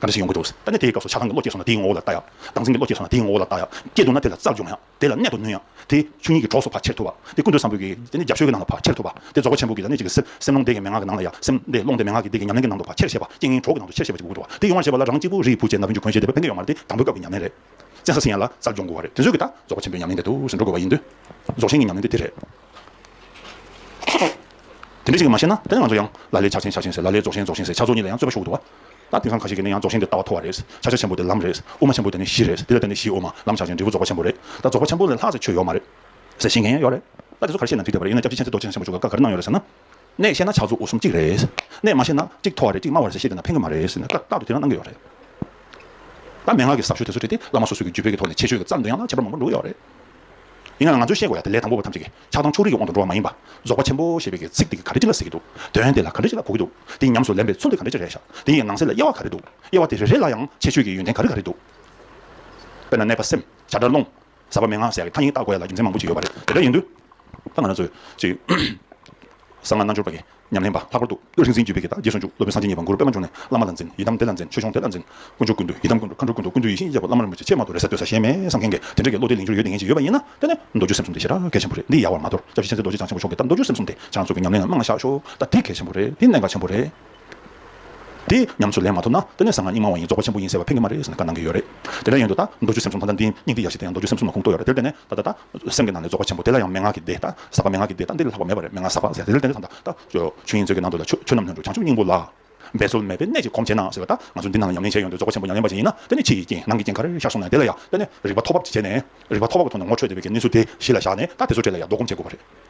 ག་འདྲ་ཞིག་ཡོང་གི་འདུག་ད་ནི་དེའི་སྐབས་སུ་ཆ་གང་གི་བློ་སྐྱེས་སོང་ན་དེའི་ངོ་བོ་ལ་བལྟ་ཡག། སྡང་སེམས་ཀྱི་བློ་སྐྱེས་སོང་ན་དེའི་ངོ་བོ་ལ་བལྟ་ཡག། སྐྱེས་འདུག་ན་དེ་ལ་བརྩག་འཇོག་མ་ཡག། དེ་ལ་གནད་དུ་བསྣུན་ཡག། དེ་ཆུ་གཉིས་ཀྱི་གྲོགས་སུ་ཕར་ཁྱེར་ཐུབ་པ། དེ་ཀུན་ཏུ་བཟང་པོའི་གེགས། དེ་ནི་རྒྱབ་ཤོད་ཀྱི་ནང་དུ་ཕར་ཁྱེར་ཐུབ་པ། དེ་རྫོགས་པ་ཆེན་པོ་གྱི་ལ་ནི་གཅིག་གི་སེམས། སེམས་ཀློང་འདས་ཀྱི་མན་ངག་གི་ནང་ལ་ཡང་སེམས། དེ་ཀློང་འདས་མན་ངག་གི་འདས་ཀྱི་ཉམས་ལེན་གྱི་ནང་དུ་ཕར་ཁྱེར་ཤེས་པ། རྐྱེན་ངན་གྲོགས་ཀྱི་ནང་དུ་ཁྱེར་ཤེས་པ་ཅིག་དགོས་འདུག་བ། དེ་ཡོང་བར་བྱེད་པ་ལ་རང་གཅིག་པུ་རིའི་བུ་ཅན་ན་བུན་ཆུ་འཁོན་ཞེས་འདི་ཕན་ཀྱི་ཡོང་མ་རེད་དེ། དང་པོའི་སྐབས་ཀྱི་ཉམས་ལེན་རེད། བཙན་ས་སི་ཡན་ལ་གསར་འབྱོར་འགོ་བ་རེད་དེ་ཚོས་གི་ད་རྫོགས་པ་ཆེན་པོའི་ཉམས་ལེན་དེ་དུས་སུ་འགྲོ་དགོས་པ་ཡིན་དུས། རྫོགས་ཆེན་གྱི་ཉམས་ལེན་དེ་དེ་རེད། དེ་འདྲས་ཤིག་གི་མ་ཤེས་ན་ད་ནི་ང་ཚོ་ཡང་ལ་ལའི་ཕྱག་ཆེན་ཕྱག་ཆེན་ཟེར་ལ་ལའི་རྫོགས་ཆེན་རྫོགས་ཆེན་ཟེར་ཕྱག་རྫོགས་གཉིས་ལ་ཡང་རྩོད་པ་ཞུགས་འདུག་བ། ད་དེང་སང་ཁ་ཤས་ཀྱི་ནི་ཡང་རྫོགས་ཆེན་དེ་ལྟ་བ་མཐོ་བ་རེད། ཕྱག་ཆེན་ཆེན་པོ་དེ་ལམ་རེད། དབུ་མ་ཆེན་པོ་དེ་ནི་གཞི་རེད། དེ་ལ་བརྟེན་ནས་གཞིའི་དབུ་མ་ལམ་ཕྱག་ཆེན་འབྲས་བུ་རྫོགས་པ་ཆེན་པོ་རེད། ད་རྫོགས་པ་ཆེན་པོ་ལས་ལྷག་ཟེར་ཆོས་ཡོད་མ་རེད། ཟེར་བཞིན་ངས་ཡོད་རེད། ད་དེ་ཚོ་ག་རེ་བཤད་ན་འགྲིག་བསྡད་པ་རེད་ཡིན་ན་སྐྱབས་རྗེ་ཆེན་ཚེ་རྡོ་རྗེ་ཆེན་པོ་བཅུ་ག་ཀ་ག་རེ་གནང་ཡོད་རེད་ཟེར་ན། ནས་བཤད་ན་ཕྱག་ཚོ་འུ་གསུམ་གཅིག་རེད། ནས་མ་བཤད་ན་གཅིག་མཐོ་བ་རེད་གཅིག་དམའ་བ་རེད་ཟེར་བཤད་དེ་ན་ཕན་གི་མ་རེད་ཟེར་ནས་རྟག་ཏུ་དེ་རང་གནང་གི་ཡོད་རེད། ད་མན་ངག་གི་ཟབ་ཤོས་དེ་ཚོ་བྲིས་ཏེ་བླ་མ་སོ་སོས་ཀྱི་རྒྱུད་སྤེལ་གྱི་ཐོག་ནས་ཆེད་བརྗོད་ཀྱི་རྩར་འདོན་ཡག་ན་ཁྱད་པར་མང་པོ་འགྲོ་གི་ཡོད་རེད། ཡིན་ཡང་ང་ཚོས་ཤེས་དགོས་ཡག་དེ་ལས་དང་པོ་བ་ཐམས་ཅད་ཀྱི་ཆགས་སྡང་ཕྱོགས་རིས་ཀྱི་དབང་དུ་འགྲོ་བ་མ་ཡིན་པ། རྫོགས་པ་ཆེན་པོ་ཞེས་པའི་གི་ཚིག་དེ་ག་རེ་ཅི་ལ་ཟེར་གྱི་འདུག་དོན་དེ་ལ་ག་རེ་ཅི་ལ་གོ་གི་འདུག་དེ་ཉམས་སུ་ལེན་པའི་ཚུལ་དེ་ག་རེ་ཅི་རེད་ཤག་དེ་ཡི་ནང་གསེས་ལ་དབྱེ་བ་ག་རེ་འདུག་དབྱེ་བ་དེ་རེ་རེ་ལ་ཡང་ཆེད་བརྗོད་ཀྱི་ཡོན་ཏན་ག་རེ་ག་རེ་འདུག་དཔེར་ན་གནས་པ་སེམས་བྱ་སྒྲ་སློང། ཟབ་པ་མན་ངག་ཟེར་ཡག་གི་ཐ་སྙིང་བཏགས་དགོས་ཡ་ལ་རྒྱུ་མཚན་མང་པོ་ཅིག་ཡོད་པ་རེད་དེ་འདྲ་ཡིན་དུས། ད་ང་རང་ཚོས་ཅིག། གསང་སྔགས་རྣལ་འབྱོར་པ་ཡི་ཉམས་ལེན་པ་ལྷག་པར་དུ་བློ་རིག་འཛིན་བརྒྱུད་པའི་གདགས་རྒྱས་ཟུང་འཇུག་སློབ་དཔོན་སངས་རྒྱས་ཉིད་པ་གུ་རུ་པདྨ་འབྱུང་གནས་བླ་མ་ལ་འཛིན་ཡི་དམ་དེ་ལ་འཛིན་ཆོས་སྐྱོང་དེ་ལ་འཛིན། དཀོན་མཆོག་ཀུན་འདུས་ཡི་དམ་ཀུན་འགྲོ་མཁའ་འགྲོ་ཀུན་འདུས་ཀུན་འདུས་ཡེ་ཤེས་ཡིན་ཞེས་པ་བླ་མ་རིན་པོ་ཆེ་ཆེས་མང་དུ་རེ་སྲེག་འདོད་ས་གཞན་མེད་བསམ་མཁན་གྱི་དེ་འདྲ་གི་བློ་དེ་ལིང་ཅུར་ཡོད་དེ་ངེས་ཅན་ཡོད་པ་ཡིན་ན་དེ་ནི་མདོ་རྒྱུད་སེམས་གསུམ་དེ་ཞེ་དྲག་གལ་ཆེན་པོ་རེད་འདི་ཡལ་བར་མ་དོར་སྐྱབས་རྗེ་ཆེན་ཚེ་རྡོ་རྗེ་འཆང་ཆེན་པོ་གསུངས་ཏེ་བྱང་ཆུབ་ཀྱི་ཉམས་ལེན་ལ་རྨང་ལ་བཞག་ཤོག་ད་དེ་གལ་ཆེན་པོ་རེད་དེ་གནད་འགག་ཆེན་པོ་རེད། དེ་ཉམས་སུ་ལེན་མ་ཐུབ་ན་དེ་ནས་གསང་སྔགས་རྙིང་མ་བ་ཡིན་རྫོགས་པ་ཆེན་པོ་ཡིན་ཟེར་བ་ཕན་གྱི་མ་རེད་ཟེར་ནས་བཀའ་གནང་གི་ཡོད་རེད། དེ་འདྲ་ཡིན་དུས་ད་མདོ་རྒྱུད་སེམས་གསུམ་ཐ་ན་འདིའི་སྙིང་ཏིག་ཡབ་སྲས་དེ་ཡང་མདོ་རྒྱུད་སེམས་གསུམ་ལ་གུང་གཏོགས་ཡོད་རེད་དེར་བརྟེན་ནས་ད་ད་ད་སེམས་ཀྱི་ནང་ནས་རྫོགས་པ་ཆེན་པོ་དེ་ལ་ཡང་མན་ངག་གི་སྡེ་ད་ཟབ་པ་མན་ངག་གི་སྡེ་ད་འདི་ལ་ལྷག་པ་མེད་པ་རེད་མན་ངག་ཟབ་པ་ཟེར་དེ་འདྲ་བརྟེན་ནས་ད་ད་ཆོས་དབྱིངས་མཛོད་ཀྱི་ནང་དུ་ལ་ཆོས་ཆོས་རྣམས་ལྷུན་གྲུབ་བྱང་ཆུབ་སྙིང་པོ་ལ། འབད་རྩོལ་མེད་པའི་གནད་ཀྱིས་གོམས་བྱས་ན་ཟེར་བ་ད་ང་ཚོ་འདི་ནང་ལ་ཉམས་ལེན་བྱས་ཡོང་དུས་རྫོགས་པ་ཆེན་པོ་ཉམས་ལེན་པ་ཞིག་ཡིན་ན་དེ་ནི་ཕྱི་ཡི་རྐྱེན་ནང་གི་རྐྱེན་ཁར་ཤར་སོང་ནས་དེ་ལ་ཡང་བརྟེན་ནས་རིག་པ་ཐོག་བབ་ཅིག་བྱས་ནས་རིག་པ་ཐོག་བབ་ཀྱི་ཐོག་ནས་ངོ་འཕྲོད་བདེ་བའི་གནས་ཚུལ་དེ་གཞི་ལ་བཞག་ནས་ད་དེ་ཚོ་བྲལ་ལ་ཡང་རྡོ་སྒོམ་བྱེད་དགོས་པ་རེད།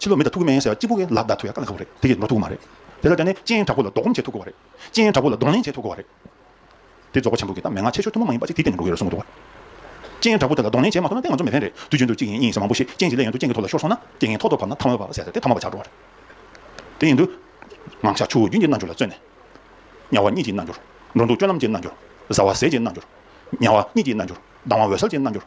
ཕྱི་ལོ་མི་ད་ཐུག་གི་མེ་ཡིན་ཟེར་བ་གཅིག་པུ་གིས་ལ་བཟླ་ཐུག་ཡ་ཀ་ལ་ཁ་བོ་རེད་དེ་གིས་ནོར་ཐུག་གི་མ་རེད། དེ་ལྟར་བྱས་ནས་སྤྱན་དྲག་པོ་ལ་ལྡོག་སྒོམ་བྱེད་ཐུག་གི་བ་རེད། སྤྱན་དྲག་པོ་ལ་གདོང་ལེན་བྱེད་ཐུག་གི་བ་རེད། དེ་རྫོགས་པ་ཆེན་པོ་གིས་ད་མན་ངག་ཆེ་ཤོས་ཐུན་མོང་མ་ཡིན་པ་ཞིག་དེའི་སྟེང་ནས་འགྲོ་གི་ཡོད་རེད་གསུང་གི་འདུག་བ། སྤྱན་དྲག་པོ་དེ་ལ་གདོང་ལེན་བྱེད་མ་ཐུབ་ན་དེ་ང་ཚོ་མི་ཕན་རེད་དུས་རྒྱུན་དུ་གཅིག་ཡིན་གཉིས་ཡིན་ཟེར་མང་པོ་ཞིག་སྤྱན་གྱི་ལས་ཡོན་དུ་སྤྱན་གྱི་ཐོག་ལ་ཤོར་སོང་ན་དེ་ངས་ཐོག་ཐོག་བབས་ན་ཐ་མ་བབས་པ་ཟེར་ཏེ་ཐ་མ་བ་ཆགས་འགྲོ་བ་རེད། དེ་ཡིན་དུས། ངང་ཤར་ཆུ་བོ་རྒྱུན་གྱི་རྣལ་འབྱོར་ལ་བརྩོན་ནས། དམྱལ་བ་གཉིད་ཀྱི་རྣལ་འབྱོར། འགྲོ་འདུག་སྤྱོད་ལམ་གྱི་རྣལ་འབྱོར། བཟའ་བ་ཟས་ཀྱི་རྣལ་འབྱོར། མྱང་བ་གཉིད་ཀྱི་རྣལ་འབྱོར། ལྡང་བ་འོད་གསལ་གྱི་རྣལ་འབྱོར།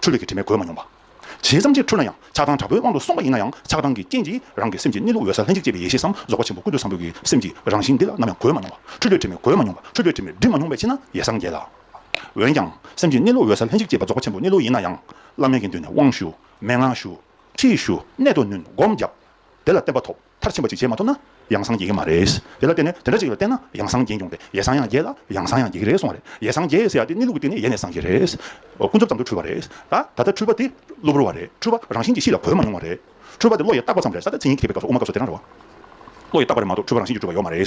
འཁྲུལ་བའི་དྲི་མས་གོས་མ་མྱོང་པ། བྱས་ཙམ་གྱིས་འཁྲུལ་ན་ཡང་ཆགས་སྡང་དྲག་པོའི་དབང་དུ་སོང་བ་ཡིན་ན་ཡང་ཆགས་སྡང་གི་རྐྱེན་གྱིས་རང་གི་སེམས་ཀྱི་གནས་ལུགས་འོད་གསལ་ལྷན་ཅིག་སྐྱེས་པའི་ཡེ་ཤེས་སམ་རྫོགས་པ་ཆེན་པོ་ཀུན་ཏུ་བཟང་པོའི་གྱི་སེམས་ཀྱི་རང་བཞིན་འདི་ལ་ནམ་ཡང་གོས་མ་མྱོང་བ། འཁྲུལ་པའི་དྲི་མས་གོས་མ་མྱོང་བ་འཁྲུལ་པའི་དྲི་མས་སྒྲིབ་མ་མྱོང་བའི་ཕྱིར་ན་ཡེ་སངས་རྒྱས་ལ། འོན་ཀྱང་སེམས་ཀྱི་གནས་ལུགས་འོད་གསལ་ལྷན་ཅིག་སྐྱེས་པ་རྫོགས་པ་ཆེན་པོའི་གནས་ལུགས་ཡིན་ན་ཡང། བླ་མེད་ཀྱི་མདུན་ནས་དབང་ཞུ། མན་ངག་ཞུ། ཁྲིད་ཞུ། གནད་དུ་བསྣུན་སྒོམ་བརྒྱབ། དེ་ལ་བརྟན་པ་ཐོབ། མཐར་ཕྱིན་པ་ཅིག་བྱེད་མ་ཐུབ་ན། ཡང་སངས་རྒྱས་ཀྱི་མ་རེད། དེ་ལ་བརྟེན་ནས་དེ་འདྲ་ཅིག་ལ་བརྟེན་ན་ཡང་སངས་རྒྱས་འབྱུང་སྟེ་ཡེ་སངས་ཡང་རྒྱས་ལ་ཡང་སངས་ཡང་རྒྱས་ཀྱི་རེད་གསུངས་བ་རེད། ཡེ་སངས་རྒྱས་ཟེར་ཡ་དེ་གནས་ལུགས་ཀྱི་སྟེང་ནས་ཡེ་ནས་སངས་རྒྱས་རེད། ཀུན་རྫོབ་ཙམ་དུ་འཁྲུལ་བ་རེད། ད་ད་ལྟ་འཁྲུལ་པ་དེ་གློ་བུར་བ་རེད། འཁྲུལ་པ་རང་བཞིན་གྱིས་གཤིས་ལ་གོ་མ་མྱོང་བ་རེད། འཁྲུལ་པ་དེ་བློ་ཡིས་བརྟགས་པ་ཙམ་རེད་ས་ད་ཚིག་ཉིད་ཀྱི་ཐེག་པའི་སྐབས་སུ་དབུ་མ་སྐབས་སུ་དེ་རང་རེད། བློ་ཡིས་བརྟགས་པ་རེད་མ་གཏོགས་འཁྲུལ་པ་རང་བཞིན་གྱིས་གྲུབ་པ་ཡོད་མ་རེད།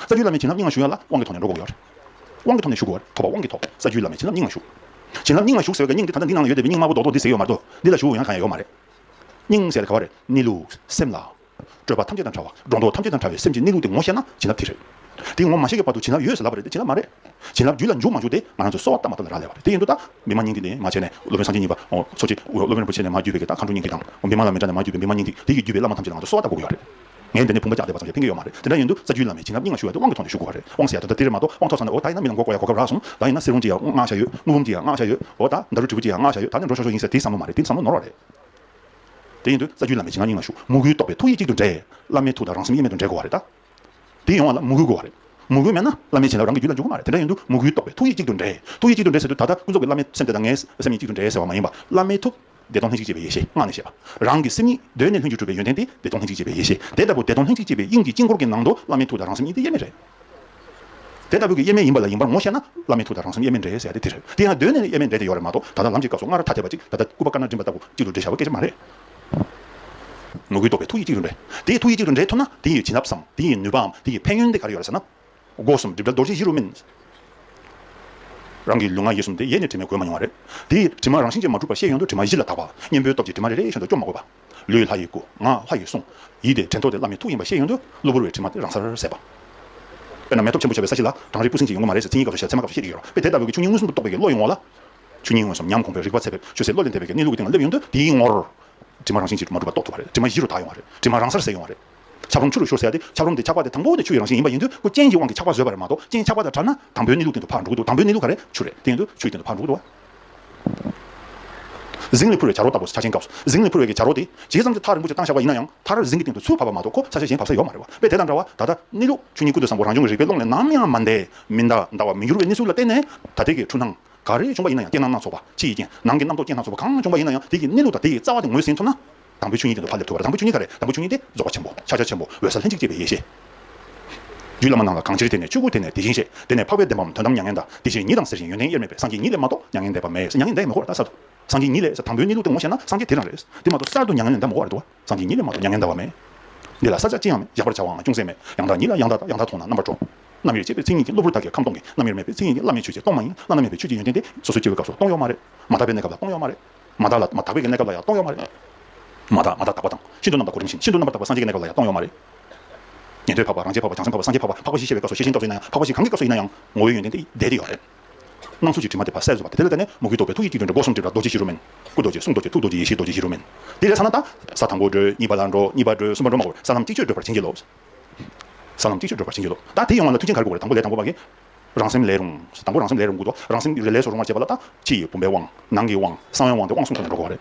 ས་བཅུའི་བླ་མའི་བྱིན་རླབས་སྙིང་ལ་ཞུགས་ཡ་ལ་དབང་གི་ཐོག་ནས་འགྲོ་འགོག་ཡོད། དབང་གི་ཐོག་ནས་ཞུགས་དགོས། ཐོབ་པ་དབང་གི་ཐོག་ས་བཅུའི་བླ་མའི་བྱིན་རླབས་སྙིང་ལ་ཞུགས། བྱིན་རླབས་སྙིང་ལ་ཞུགས་ཟེར་བའི་སྙིང་འདི་ད་ལྟ་འདི་ནང་ལ་ཡོད་བསྡད་པའི་སྙིང་དམར་པོ་རྡོག་རྡོག་འདི་ཟེར་ཡོད་མ་རེད་དོ། འདི་ལ་ཞུགས་ཡོང་གང་ཡང་ཡོད་མ་རེད། སྙིང་ཟེར་ག་བ་རེད་གནས་ལུགས་སེམས་ལ། སྤྲོས་པ་ཐམས་ཅད་དང་བྲལ་བ་སྒྲོ་འདོགས་ཐམས་ཅད་དང་བྲལ་བའི་སེམས་ཀྱི་གནས་ལུགས་དེ་ངོ་ཤེས་ན་བྱིན་རླབས་དེ་རེད། དེ་ངོ་མ་ཤེས་ཀྱི་བར་དུ་བྱིན་རླབས་ཡོད་ཟེར་ལབ་པ་རེད་དེ་བྱིན་རླབས་མ་རེད། བྱིན་རླབས་རྒྱུད་ལ་འཇུག་མ་འཇུག་དེ་ང་རང་ཚོའི་གསོ་བ་ལྟ་མ་ལྟ་ལ་རག་ལས་པ་རེད་དེ་ཡིན་དུས་ད་བི་མ་སྙིང་འདི་ནས་མ་བྱས་ནས་སློབ་དཔོན་སངས་རྒྱས་གཉིས་པ་འཚོ་བྱེད་སློབ་དཔོན་རིན་པོ་ཆེ་ནས་མ་བརྒྱུད་པའི་གདའ་མཁའ་འགྲོ་སྙིང་འདི་དང་བི་མ་ལ་མི་འདྲ་ནས་མ་བརྒྱུད་པའི་བི་མ་སྙིང་འདི་དེ་ཡིས་བརྒྱུད་པའི་བླ་མ་ཐམས་ཅད་ལ་ང་ཚོ་གསོ་བ་ལྟ་དགོས་ཀྱི་ཡོད་རེད། ངས་འདི་ནས་བུམ་པ་རྒྱག་བསྡད་པ་ཙམ་ལས་ཕན་ཀྱི་ཡོད་མ་རེད་དེ་འདྲ་ཡིན་དུས་རྩ་རྒྱུས་བླ་མས་བྱིན་རླབས་སྙིང་ལ་ཞུ་བ་དེ་དབང་གི་ཐོག་ནས་ཞུ་དགོས་པ་རེད་དབང་ཟེར་ཡ་ད་ལྟ་དེ་རེད་མ་གཏོགས་དབང་ཐོག་ས་ན་ནས་འོ་ད་ཡིན་ན་མི་ལ་མགོ་བསྐོར་ཡ་གོ་སྐབས་རག་སོང་ད་ཡིན་ན་གསེར་བུམ་གྱི་ཡ་བསྔགས་བྱ་ཡོད་དངུལ་བུམ་གྱི་ཡ་བསྔགས་བྱ་ཡོད་འོ་ད་མདའ་རུ་དྲིལ་བུ་གྱི་ཡ་བསྔགས་བྱ་ཡོད་ད་ནས་འགྲོ་ཤོག་ཤོག་ཡིན་ཟེར་དེའི་བསམ་བློ་མ་རེད་དེ་བསམ་བློ་ནོར་བ་རེད། དེ་ཡིན་དུས་རྩ་རྒྱུས་བླ་མས་བྱིན་རླབས་སྙིང་ལ་ཞུ་མུ་གུའི་རྟོགས་པའི་ཐུགས་ཡིད་གཅིག་ཏུ་འདྲེས། བླ་མའི་ཐུགས་དང་རང་སེམས་དབྱེར་མེད་དུ་འདྲེས་དགོས་བ་རེད་ད། དེ་ཡོང་བ་ལ་མུ་གུ་དགོས་བ་རེད། མུ་གུ་མེད་ན་བླ་མའི་བྱིན་རླབས་རང་གི་རྒྱུད་ལ་འཇུག་གི་མ་རེད་དེ་འདྲ་ཡིན་དུས་མུ་གུའི་རྟོགས་པའི་ཐུགས་ཡིད་གཅིག་ཏུ་འདྲེས། ཐུགས་ཡིད་གཅིག་ཏུ་འདྲེས་ཟེར་དུས་ད་ལྟ་ཀུན་རྫོབ་ཀྱི་བླ་མའི་སེམས་ཀྱི་གཅིག་ཏུ་འདྲེས་ཟེར་བ་མ་ཡིན་པ་བླ་མའི་ཐུགས། བདེ་སྟོང་ལྷན་ཅིག་སྐྱེས་པའི་ཡེ་ཤེས་སྔགས་ནས་བཤད་པ། རང་གི་སེམས་ཉིད་གདོད་ནས་ལྷུན་གྱིས་གྲུབ་པའི་ཡོན་ཏན་དེ་བདེ་སྟོང་ལྷན་ཅིག་སྐྱེས་པའི་ཡེ་ཤེས་དེ་ལྟ་བུ་བདེ་སྟོང་ལྷན་ཅིག་སྐྱེས་པའི་དབྱིངས་ཀྱི་དཀྱིལ་འཁོར་གྱི་ནང་དུ་བླ་མའི་ཐུགས་དང་རང་སེམས་གཉིས་དེ་དབྱེར་མེད་རེད། དེ་ལྟ་བུ་གི་དབྱེར་མེད་ཡིན་པ་ལ་ཡིན་པར་ངོ་ཤེས་ན་བླ་མའི་ཐུགས་དང་རང་སེམས་དབྱེར་མེད་འདྲེས་ཟེར་ཏེ་དེ་རེད་དེ་ཡང་གདོད་ནས་དབྱེར་མེད་འདྲེས་ཏེ་ཡོད་རེད་མ་གཏོགས་ད་ལྟ་ལམ་གྱི་སྐབས་སུ་སྔར་ར་ཐ་དད་པ་གཅིག་ད་ལྟ་སྐུད་པ་དཀར་ནག་འགྲིམ་པ་ལྟ་བུ་གཅིག་ཏུ་འདྲེས་བྱ་བ་སྐད་ཆ་མ་རེད། ངོ་བོའི་རྟོགས་པའི་ཐུགས་ཡིད་གཅིག་ཏུ་འདྲེས་དེ་ཐུགས་ཡིད་གཅིག་ཏུ་འདྲེས་ཐུབ་ན་དེ་ཡི་བྱིན་རླབས་སམ་དེ་ཡི་ནུས་པའམ་དེ་ཡི་ཕན་ཡོན་དེ་ག་རེ་ཡོད་རེད་ཟེར་ན། སྒོ་གསུམ་སྒྲིབ་བྲལ་རྡོ་རྗེ་བཞི་རུ་སྨིན། རང་གི་ལུས་ངག་ཡིད་གསུམ་དེ་ཡེ་ནས་དྲི་མས་གོས་མ་མྱོང་བ་རེད། དེའི་དྲི་མ་རང་བཞིན་ཅན་མ་གྲུབ་པར་ཤེས་ཡོན་དུ་དྲི་མ་བཞི་ལ་དག་པ། གཉེན་པོའི་སྟོབས་ཀྱིས་དྲི་མ་རེ་རེ་བཞིན་དུ་སྐྱོབ་མ་དགོས་པ། ལུས་ལྷ་ཡི་སྐུ། ངག་ལྷ་ཡི་གསུང། ཡིད་དེ་དྲན་ཐོ་དེ་བླ་མའི་ཐུགས་ཡིན་པར་ཤེས་ཡོན་དུ་གློ་བུར་བའི་དྲི་མ་དེ་རང་སར་ཟད་པ། དཔེར་ན་མེ་ཐོབ་ཆེན་པོ་ཆགས་པའི་ས་གཞི་ལ་གྲང་རེག་སྤུ་ཟིང་ཅིག་ཡོང་གི་མ་རེད་ཟེར་མཚན་ཉིད་སྐབས་སུ་བཤད་ཚད་མ་སྐབས་སུ་བཤད་ཀྱི་ཡོད་རོ། དཔེ་དེ་ལྟ་བུའི་གི་ཆུ་སྙིང་མངོན་སུམ་དུ་རྟོགས་པའི་གི་བློ་ཡིན་ངོ་ལ། ཆུ་སྙིང་མངོན་སུམ་ཉམས་གོང་པའི་རིག་པ་ཚད་ཕེབས་ཆོད་སའི་བློ་ལས་འདས་པའི་གི་གནས་ལུགས་ཀྱི་སྟེང་ལ་སླེབས་ཡོང་དུ་དེའི་ངོར། དྲི་མ་རང་བཞིན་ཅན་དྲི་མ་གྲུབ་པ་རྟོགས་ཐུབ་པ་རེད་དྲི་མ་བཞི་རུ་དག་ཡོང་བ་རེད་དྲི་མ་རང་སར་ཟད་ཡོང་བ་རེད། ཆབ་རོམ་ཆུ་རུ་བཞུར་ཟེར་ཏེ་ཆབ་རོམ་དེ་ཆགས་པ་དེ་དང་པོ་དེ་ཆུ་ཡི་རང་བཞིན་ཡིན་པ་ཡིན་དུས་སྐུ་རྐྱེན་གྱི་དབང་གིས་ཆགས་པ་བཟོས་པ་རེད་མ་གཏོགས་རྐྱེན་ཆགས་པ་དང་བྲལ་ན་དང་པོའི་གནས་ལུགས་དེ་ཚོ་ཕར་འགྲོ་གི་འདུག་དང་པོའི་གནས་ལུགས་ག་རེད་ཆུ་རེད་དེ་ཡིན་དུས་ཆུ་ཡི་སྟེང་དུ་ཕར་འགྲོ་གི་འདུག་བ། གཟིངས་ལས་འཕུར་བའི་བྱ་རོག་ལྟ་བུ་ཆ་ཆེན་སྐབས་སུ་གཟིངས་ལས་འཕུར་བའི་གྱི་བྱ་རོག་དེ་བྱས་ཙམ་གྱིས་མཐར་རིན་པོ་ཆེ་བཏང་བཞག་པ་ཡིན་ན་ཡང་མཐར་གཟིངས་ཀྱི་སྟེང་དུ་ཆུ་བབས་པ་མ་གཏོགས་ཁོ་ས་ཆ་གཞན་བབས་ས་ཡོད་མ་རེད་བ་དཔེ་དེ་དང་འདྲ་བ་ད་ལྟ་གནས་ལུགས་ཆུ་གཉིས་ཀུན་ཏུ་བཟང་པོ་རང་བྱུང་གི་རིག་པའི་ཀློང་ལས་ནམ་ཡང་མ་འདས་མི་འདའ་འདའ་བར་མི་འགྱུར་བའི་གནས་ཚུལ་ལ་བརྟེན་ནས་ད་ལྟའི་གི་འཁྲུལ་སྣང་ག་རེ་བྱུང་པ་ཡིན་ན་ཡང་རྐྱེན་སྣ་སྣ་ཚོགས་པ་ཕྱི་ཡི་རྐྱེན་ནང་གི་རྣམ་རྟོག་རྐྱེན་སྣ་ཚོགས་པ་གང་བྱུང་པ་ཡིན་ན་ཡང་དེ་གི་གནས་ལུགས་དང་དེ་ཡི་རྩ་བ་དེ་ངོས་ཟིན་ཐུབ་ན། དང་པོའི་ཆོས་ཉིད་དེ་འདུ་བ་ལས་ཐོས་པ་དང་པོའི་ཆོས་ཉིད་ག་རེ་དང་པོའི་ཆོས་ཉིད་དེ་རྫོགས་པ་ཆེན་པོ་ཕྱག་རྒྱ་ཆེན་པོ་འོད་གསལ་ལྷན་ཅིག་སྐྱེས་པའི་ཡེ་ཤེས། རྒྱུད་བླ་མ་རྣམས་ལ་གང་ཕྱིར་དེ་ནས་ཆོས་སྐུ་དེ་ནས་དེ་བཞིན་གཤེགས་དེ་ནས་འཕགས་པའི་བདེན་པའམ་དོན་དམ་མྱ་ངན་འདའ་དེ་བཞིན་ཉིད་དང་ཟེར་བཞིན་ཡོན་ཏན་དབྱེར་མེད་པའི་སངས་རྒྱས་ཉིད་ལས་མ་གཏོགས་མྱ་ངན་འདས་པ་མེད་མྱ་ངན་འདས་མི་གོ་བར་ད་གསར་དུ་སངས་རྒྱས་ཉིད་ལས་དང་པོའི་གནས་ལུགས་དེ་ངོ་ཤེས་ན་སངས་རྒྱས་དེ་རང་རེད་དེ་མ་གཏོགས་གསར་དུ་མྱ་ངན་འདས་མི་གོ་བར་འདུག་སངས་རྒྱས་ཉིད་ལས་མ་གཏོགས་མྱ་ངན་འདའ་བ་མེད། འདི་ལ་ས་ཆ་ཅི་ཡང་མེད་གཞག་པར་བྱ་བའང་ཅུང་ཟད་མེད་ཡང་དག་ཉིད་ལ་ཡང་དག་དང་ཡང་དག་མཐོང་ན་རྣམ་པར་སྤྲོ། རྣམ་དབྱེར་བཅས་པའི་མཚན་ཉིད་ཀྱིས་གློ་བུར་དག་གིས་ཁམས་སྟོང་གི་རྣམ་དབྱེར་མེད་པའི་མཚན་ཉིད་ཀྱིས་བླ་མེད་ཆོས་ཀྱིས་སྟོང་མ་ཡིན་བླ་ན་མེད་པའི་ཆོས་ཀྱི་ཡོན་ཏན་དེ་སོ་སོའི་སྐྱེ་བོའི་སྐབས་སུ་སྟོང་ཡོད་མ་རེད་མ་དག་པའི་གནས་སྐབས་ལ་སྟོང་ཡོད་མ་རེད། མ་དག་ལ་མ་དག་པའི་གནས་སྐབས་ལ་ཡང་སྟོང་ཡོད་མ་རེད། མ་དག་མ་དག་དག་པ་དང་ཤིན་ཏུ་རྣམ་དག་གོ་རིམ་བཞིན་ཤིན་ཏུ་རྣམ་པར་དག་པ་སངས་རྒྱས་ཀྱི་གནས་སྐབས་ལ་ཡང་སྟོང་ཡོད་མ་རེད། ཉན་ཐོས་འཕགས་པ་རང་རྒྱལ་འཕགས་པ་བྱང་སེམས་འཕགས་པ་སངས་རྒྱས་འཕགས་པ་འཕགས་པ་ཞེས་བཤད་པའི་སྐབས་སུ་ཤེས་བཞིན་རྟོག་བཟོས་ན་ཡང་འཕགས་པ་ཞིག་གང་གི་སྐབས་སུ་ཡིན་ན་ཡང་ངོ་བོའི་ཡོན་ཏན་དེ་ཡིས་བསྡད་དེ་ཡོད་མ་རེད། སྣང་ཚུལ་གྱི་དྲི་མ་དེ་བར་གསལ་བཟོ་བ་དེ་དེ་ལས་འདས་ནས་མུ་གེའི་རྟོག་པའི་ཐུགས་ཀྱི་སྐྱིལ་ཀྲུང་རེ་སྒོ་གསུམ་སྒྲིབ་ལ་རྡོ་རྗེ་བཞི་རུ་མེན། སྐུ་རྡོ་རྗེ་གསུང་རྡོ་རྗེ་ཐུགས་རྡོ་རྗེ་ཡེ་ཤེས་རྡོ་རྗེ་བཞི་རུ་མེན། དེ་ལས་ས་ན་ད་ས་དང་པོ་འགྲོའི་གཉིས་པ་ལ་འགྲོ་གཉིས་པ་འགྲོའི་གསུམ་པ་འགྲོ་མ་གོ་ས་ལམ་གཅིག་ཆོད་བགྲོད་པར་བྱིན་གྱིས་རློབས། ས་ལམ་གཅིག་ཆོད་བགྲོད་པར་བྱིན་གྱིས་རློབས། ད་དེ་ཡོང་བ་ལ་མཐུ་ཆེན་གར་དགོས་པ་རེད་དང་པོ་ལས་དང་པོ་བ་གི། རང་སེམས་ལས་རུང། དང་པོ་རང་སེམས་ལས་རུང་དགོས་ཏོ། རང་སེམས་རེ་ལས་སུ་རུང་བར་བྱེད་པ་ལ་དང། ཕྱི་ཡི་བུམ་པའི་དབང། ནང་གི་དབང། གསང་བའི་དབང་སྟེ་དབང་གསུམ་ཁོ་ནར་འགྲོ་གོ། རེ་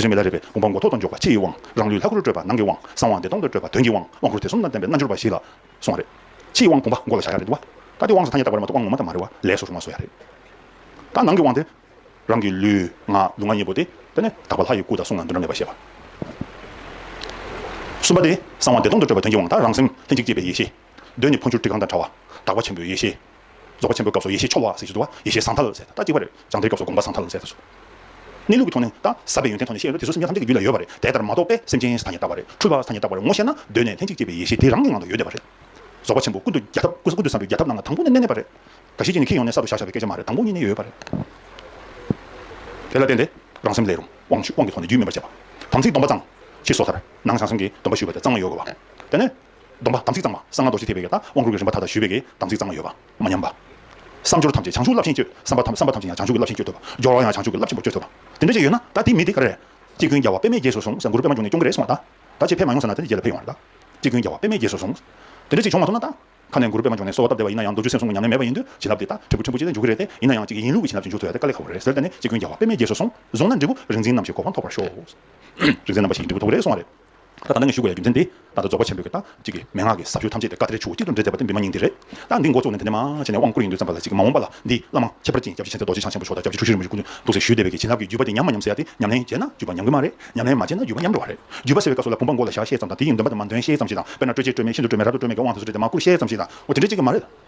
རེ་མེ་ལ་རེ་བས་བུམ་པ་མགོ་ཐོག་ཏུ་འཇོག་པ་ཕྱི་ཡི་དབང། རང་ལུས་ལྷ་སྐུར་སྤྲོས་པ་ནང་གི་དབང། གསང་བ་བདེ་སྟོང་དུ་སྤྲོས་པ་དོན་གྱི་དབང། དབང་བསྐུར་དེ་གསུམ་དང་ལྡན་པའི་རྣལ་འབྱོར་པ་བཞི་ལ། སོང་བ་རེ། ཕྱི་ཡི་དབང་བུམ་པ་མགོ་ལ་བཞག་ཡ་རེ་འདུག་བ། ད་དེ་དབང་སོ་ཐ་སྙད་བཏགས་པ་རེ་མ་གཏོགས་དབང་ངོ་མ་དང་མ་རེ་བ་ལས་སུ་རུང་བ་བཟོ་ཡ་རེ། དང། ནང་གི་དབང་དེ། རང་གི་ལུས། ངག། ལུས་ངག་གཉིས་པོ་སྟེ། དེ་ནི། དག་པ་ལྷ་ཡི་སྐུ་དང་གསུང་ལ་འདུ་འབྲལ་མེད་པར་ཤེས་པ། གསུམ་པ་སྟེ། གསང་བ་བདེ་སྟོང་དུ་སྤྲོས་པ་དོན་གྱི་དབང་དང་རང་སེམས། ལྷན་ཅིག་སྐྱེས་པའི་ཡེ་ཤེས། གདོད་ནས་འཕོ་འགྱུར་དྲི་གང་དང་འདྲ་བ། དག་པ་ཆེན་པོའི་ཡེ་ཤེས། རྫོགས་པ་ཆེན་པོའི་སྐབས་སུ་ཡེ་ཤེས་མཆོག་དབང་ཟེར་ཞེས་བསྡུ་བ་ཡེ་ཤེས་ཟང་ཐལ་ཟེར་ད་ཅིག་པ་རེད་སྦྱང་བརྡའི་སྐབས་སུ་དགོངས་པ་ཟང་ཐལ་ཟེར་ད་ཟུག། གནས་ལུགས་ཀྱི་ཐོག་ནས་དང་ཟབ་པའི་ཡོན་ཏན་ཐོག་ནས་བཤད་ཡོད་ན་དེ་སོ་སོ་སྙེད་ཐམས་ཅད་ཀྱི་རྒྱུད་ལ་ཡོད་པ་རེད་དེ་ལྟར་མ་རྟོགས་པས་སེམས་ཅན་ས་ཐ་ཉིད་བརྟགས་པ་རེད་འཁྲུལ་པ་ས་ཐ་ཉིད་བརྟགས་པ་རེད་ངོ་ཤེས་ན་གདོད་ནས་ལྷན་ཅིག་སྐྱེས་པའི་ཡེ་ཤེས་དེ་རང་གི་ངང་དུ་ཡོད་བསྡད་པ་རེད། རྫོགས་པ་ཆེན་པོ་ཀུན་ཏུ་རྒྱལ་ཐབས་ཀུན་ཏུ་བཟང་པོའི་རྒྱལ་ཐབས་རྣམས་ལ་དང་པོ་ནས་གནས་མེད་པ་རེད། འགའ་ཞིག་གིས་ནི་ཁྱེད་ཡོང་ནས་གསར་དུ་བཞག་བཞག་པའི་སྐད་ཆ་མ་རེད་དང་པོ་ཉིད་ནས་ཡོད་པ་རེད། དེ་ལ་བརྟེན་ཏེ་རང་སེམས་ལས། རུང་དབང་གི་ཐོག་ནས་རྒྱུད་སྨིན་པར་བྱེད་པ། དམ་ཚིག་སྡོམ་པ་གཙང། ཕྱིས་སོ་ཐར། ནང་བྱང་སེམས་ཀྱི་སྡོམ་པ་ཞུས་པ་དེ་གཙང་མ་ཡོད་དགོས་པ། དེ་ནས། སྡོམ་པ་དམ་ཚིག་གཙང་མ་གསང་སྔགས་རྡོ་རྗེ་ཐེག་པའི་ཡབ་དང་དབང་བསྐུར་གྱི་རིམ་པ་ད་ལྟ་ཞུས་པའི་གེགས་དམ་ཚིག་གཙང་མ་ཡོད་པ་མ་ཉམས་པ། བསམ་སྦྱོར་ཐམས་ཅད་བྱང་ཆུབ་རླབས་ཆེན་སྤྱོད་བསམ་པ་བསམ་པ་ཐམས་ཅད་ཡང་བྱང་ཆུབ་ཀྱི་རླབས་ཆེན་སྤྱོད་ཐུབ་པ་སྦྱོར་བ་ཡང་བྱང་ཆུབ་ཀྱི་རླབས་ཆེན་པོ་སྤྱོད་ཐུབ་པ་དེ་འདྲ་ཞིག་ཡོད་ན་ད་དེ་མི་དེ་ག་རེ་རེད། སྤྱི་ཀུན་རྒྱལ་བ་པདྨའི་རྗེས་སུ་བཟུང་ཟེར་གུ་རུ་པདྨ་འབྱུང་གནས་སྐྱོང་གི་རེད་གསུང་བ་དང། ད་ཆེས་ཕེབས་མ་ཡོང་ཟེར་ན་ད་དེ་རྗེས་ལ་ཕེབས་ཡོང་བ་རེད་ད། སྤྱི་ཀུན་རྒྱལ་བ་པདྨའི་རྗེས་སུ་བཟུང། དེ་འདྲ་ཞིག་བྱུང་མ་ཐུབ་ན་ད། ཁ་ནས་གུ་རུ་པདྨ་འབྱུང་གནས་གསོལ་བ་བཏབ་བསྡད་པ་ཡིན་ན་ཡང་མདོ་རྒྱུད་སེམས་གསུམ་གྱི་ཉམས་ལེན་མེད་པ་ཡིན་དུས་བྱིན་རླབས་དེ་དག་འབྲས་བུ་ཕྲན་བུ་ཅི་ལྟར་འཇུག་གི་རེད་དེ་ཡིན་ན་ཡང་གཅིག་གི་ཡིན་ལུགས་ཀྱི་བྱིན་རླབས་ཅིག་འཇུག་ཐུབ་ཡོད་དེ་དཀའ་ལས་ཁག་པོ་རེད་ཟེར་ད་ནི་སྤྱི་ཀུན་རྒྱལ་བ་པདྨའི་རྗེས་སུ་བཟུང། བཟུང་ན་འབྲས་བུ་རིག་འཛིན་རྣམ་བཞིའི་གོ་འཕང་ཐོབ་པར་ཤོག། རིག་འཛིན་རྣམ་པ་བཞིའི་འབྲས་བུ་ཐོབ་གི་རེད་གསུང་བ་རེད། ད་ལྟ་ནས་ཞུ་དགོས་ཡ་རྒྱུ་མཚན་དེ། ད་ལྟ་རྫོགས་པ་ཆེན་པོའི་གི་རྟགས་གཅིག་གི་མན་ངག་གི་ཟབ་ཞུགས་ཐམས་ཅད་དེ་བཀའ་གཏེར་ཆུ་བོ་གཅིག་ཏུ་འདྲེས་མཛད་པ་དེ་འདི་མ་ཉིད་འདི་རེད། ད་འདི་མགོ་བཙུགས་ནས་དེ་འདྲ་མ་བྱས་ནས་དབང་བསྐུར་ཡིན་དུས་ཙམ་པ་ལ་གཅིག་མ་འོངས་པ་ལ་འདི་བླ་མ་ཁྱད་པར་ཅན་སྐྱབས་རྗེ་མཁྱེན་བརྩེ་རྡོ་རྗེ་འཆང་ཆེན་པོ་མཆོག་དང་སྐྱབས་རྗེ་ཆུ་ཤུར་རིན་པོ་ཆེ་སྐུ་མདུན་ཐུགས་སྲས་ཞུས་སྡེ་བའི་གི་བྱིན་རླབས་ཀྱི་བརྒྱུད་པ་དེ་ཉམས་མ་ཉམས་སྲས་ཡ་དེ་ཉམས་ལེན་བྱས་ན་བརྒྱུད་པ་ཉམས་གི་མ་རེད་ཉམས་ལེན་མ་བྱས་ན་བརྒྱུད་པ་ཉམས་འགྲོ་བ་རེད་བརྒྱུད་པ་སེལ་བའི་བཀའ་སྲོལ་ལ་བུམ་པ་མགོ་ལ་བཞག་ཤེས་ཙམ་དང་དེ་ཡི་འདོན་པ་དང་མ་འདོན་ཤེས་ཙམ་ཞིག་དང་དཔེར་ན་སྤྲོས་བཅས་སྤྲོས་མེད་ཀྱི་དབང་དུ་སུ་སྤྲོས་ཏེ་མ་བསྐུར་ཤེས་ཙམ་ཞིག་དང་འོ་དེ་འདྲས་ཅིག་གི་མ་རེད།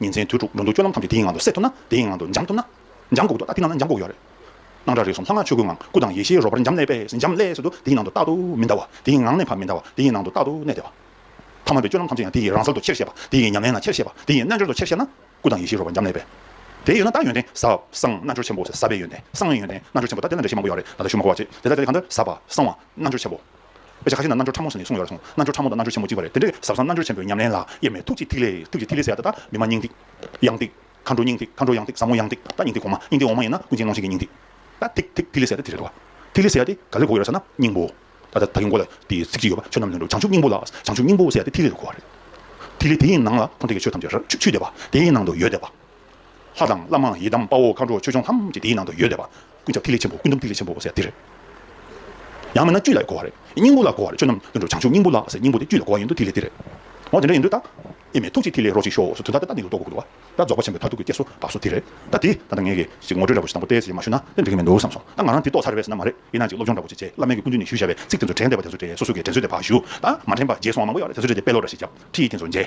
ཉིན་མཚན་དུས་དྲུག་འགྲོ་འདུག་སྤྱོད་ལམ་ཐམས་ཅད་དེའི་ངང་དུ་སད་ཐུབ་ན་དེའི་ངང་དུ་འཇམ་ཐུབ་ན། འཇམ་འགོག་འདུག་ད་དེ་ནང་ན་འཇམ་འགོག་ཡོད་རེད། སྣང་གྲགས་རེག་གསུམ་ལྷ་སྔགས་ཆོས་སྐུའི་ངང་སྐུ་དང་ཡེ་ཤེས་རོལ་པར་འཇམ་ལས་པས་འཇམ་ལས་སུ་འདུག་དེའི་ནང་དུ་རྟག་ཏུ་མི་འདའ་བ་དེའི་ངང་གནས་ཕ་མི་འདའ་བ་དེའི་ནང་དུ་རྟག་ཏུ་གནས་བདེ་བ། ཐ་མལ་པའི་སྤྱོད་ལམ་ཐམས་ཅད་ཡང་དེ་ཡི་རང་སར་དུ་ཆེར་བཤད་པ་དེ་ཡི་ཉམས་ལེན་ན་ཆེར་བཤད་པ་དེ་ཡི་རྣལ་འབྱོར་དུ་ཆེར་བཤད་ན། སྐུ་དང་ཡེ་ཤེས་རོལ་པར་འཇམ་ལས་པས། དེ་ཡོད་ན་ད་ཡོན་ཏན་ཟབ། གསང། རྣལ་འབྱོར་ཆེན་པོ་ཟབ་པའི་ཡོན་ཏན་གསང་བའི་ཡོན་ཏན་རྣལ་འབྱོར་ཆེན་པོ་ད་དེ་ན་འདྲེ་ཤེས་མང་པོ་ཡོད་རེད་ད་ད་ཞུ་མ་གོ་བ་ཅི་དེ་ད་དེ་གང་འདྲ་ཟབ་པ་གསང་བ་རྣལ་འབྱོར་ཆེན་པོ། དཔེ་ཆ་ཁ་ཤས་ན་རྣལ་འབྱོར་ཕྲ་མོ་ཟེར་ནས་གསུངས་ཡོད་ར་གསུངས། རྣལ་འབྱོར་ཕྲ་མོ་དང་རྣལ་འབྱོར་ཆེན་མོ་གཅིག་པ་རེད། དེ་འདྲའི་ཟབ་གསང་རྣལ་འབྱོར་ཆེན་པོའི་ཉམས་ལེན་ལ་དབྱེར་མེད་ཐུགས་ཀྱི་ཐིག་ལེ། ཐུགས་ཀྱི་ཐིག་ལེ་ཟེར་ཡ་ད་ལྟ་མི་སྨྲ་སྙིང་ཐིག། གཡང་ཐིག། མཁའ་འགྲོ་སྙིང་ཐིག་མཁའ་འགྲོ་གཡང་ཐིག་ས་མོ་གཡང་ཐིག་ད་སྙིང་ཐིག་གོང་མ་སྙིང་ཐིག་འོག་མ་ཡིན་ན་ཀུན་མཁྱེན་གནོང་ཤིག་གི་སྙིང་ཐིག། ད་ཐིག་ཐིག་ཐིག་ལེ་ཟེར་ཡ་ད་དེ་རེད་དོ། ཐིག་ལེ་ཟེར་ཡ་དེ་ག་ལེར་གོ་ཡོད་ར་ས་ན་སྙིང་པོ། ད་ད་གིན་གོ་ལ་དེ་ཚིག་གཅིག་ཡོད་པ་ཆོས་རྣམས་ལོན་འགྲོ་བྱང་ཆུབ་སྙིང་པོ་ལ་བྱང་ཆུབ་སྙིང་པོ་ཟེར་ཡ་དེ་ཐིག་ལེ་རུ་གོ་བ་རེད། ཐིག་ལེ་དེ་ཡི་ནང་ལ་འཁོར་འདས་ཀྱི་ཆོས་ཐམས་ཅད་ར་ཆུ་ཆུ་བསྡད་པ་དེ་ཡི་ནང་དུ་ཡོད་བསྡད་པ། ལྷ་དང་བླ་མ་ཡི་དམ་དཔའ་བོ་མཁའ་འགྲོ་ཆོས་སྐྱོང་ཐམས་ཅད་དེའི་ནང་དུ་ཡོད་ལས་པ། ཀུན་ཁྱབ་ཐིག་ལེ་ཆེན་པོ་ཀུན་འདུམ་ཐིག་ལེ་ཆེན་པོ་ཟེར་དེ་རེད། ཡང་མིན་ན་བཅུད་ལ་གོ་བ་རེད། སྙིང་པོ་ལ་གོ་བ་རེད་ཆོས་རྣམས་དུད་འགྲོ་བྱང་ཆུབ་སྙིང་པོ་ལགས་ཟེར་སྙིང་པོ་དེ་བཅུད་ལ་གོ་བ་ཡིན་འདུག་ཐིག་ལེ་དེ་རེད། འོ་དེ་འདྲ་ཡིན་དུས་ད་ཨེ་མེད་ཐུགས་རྗེའི་ཐིག་ལེ་རོ་གཅིག་ཤོག་སོ་དུས་ད་ལྟ་ད་ནི་ལུགས་ལྡོག་གོ་འདུག་བ། ད་རྫོགས་པ་ཆེན་པོའི་མཐར་ཐུག་གི་སྐྱེལ་སོ་འབབ་སོ་དེ་རེད། ད་དེ་ད་ལྟ་ངས་ཀྱི་ཞིག་ངོ་སྤྲོད་ར་བོ་ཞིག་དང་པོ་ཏའི་ཟེར་ཡིན་མ་ཞུ་ན་དེ་འགྲིག་གི་མི་འདུག་བསམ་སོང་ད་ང་རང་དེ་ཏོག་ཚར་བས་ཟེར་ན་མ་རེད་ཡིན་ན་ཅིག་སློབ་སྦྱོང་འདྲ་བོ་ཅིག་བྱས་བླ་མེད་ཀྱི་སྐུ་མདུན་ནས་ཞུས་བཞག་པའི་ཚིག་དེ་ཚོ་དྲན་བསྡད་པ་དེ་ཚོ་དྲན་སོ་སོ་དགེ་དྲན་སོས་དེ་ཕ་ཞུ། ད་མ་དྲན་པ་རྗེས་སོང་བ་མང་པོ་ཡོད་རེད་དེ་ཚོ་དྲན་ཏེ་དཔེ་ཀློག་འདྲ་ཞིག་བརྒྱབ་ཁྲིད་ཡིག་དེ་ཚོ་མཇལ།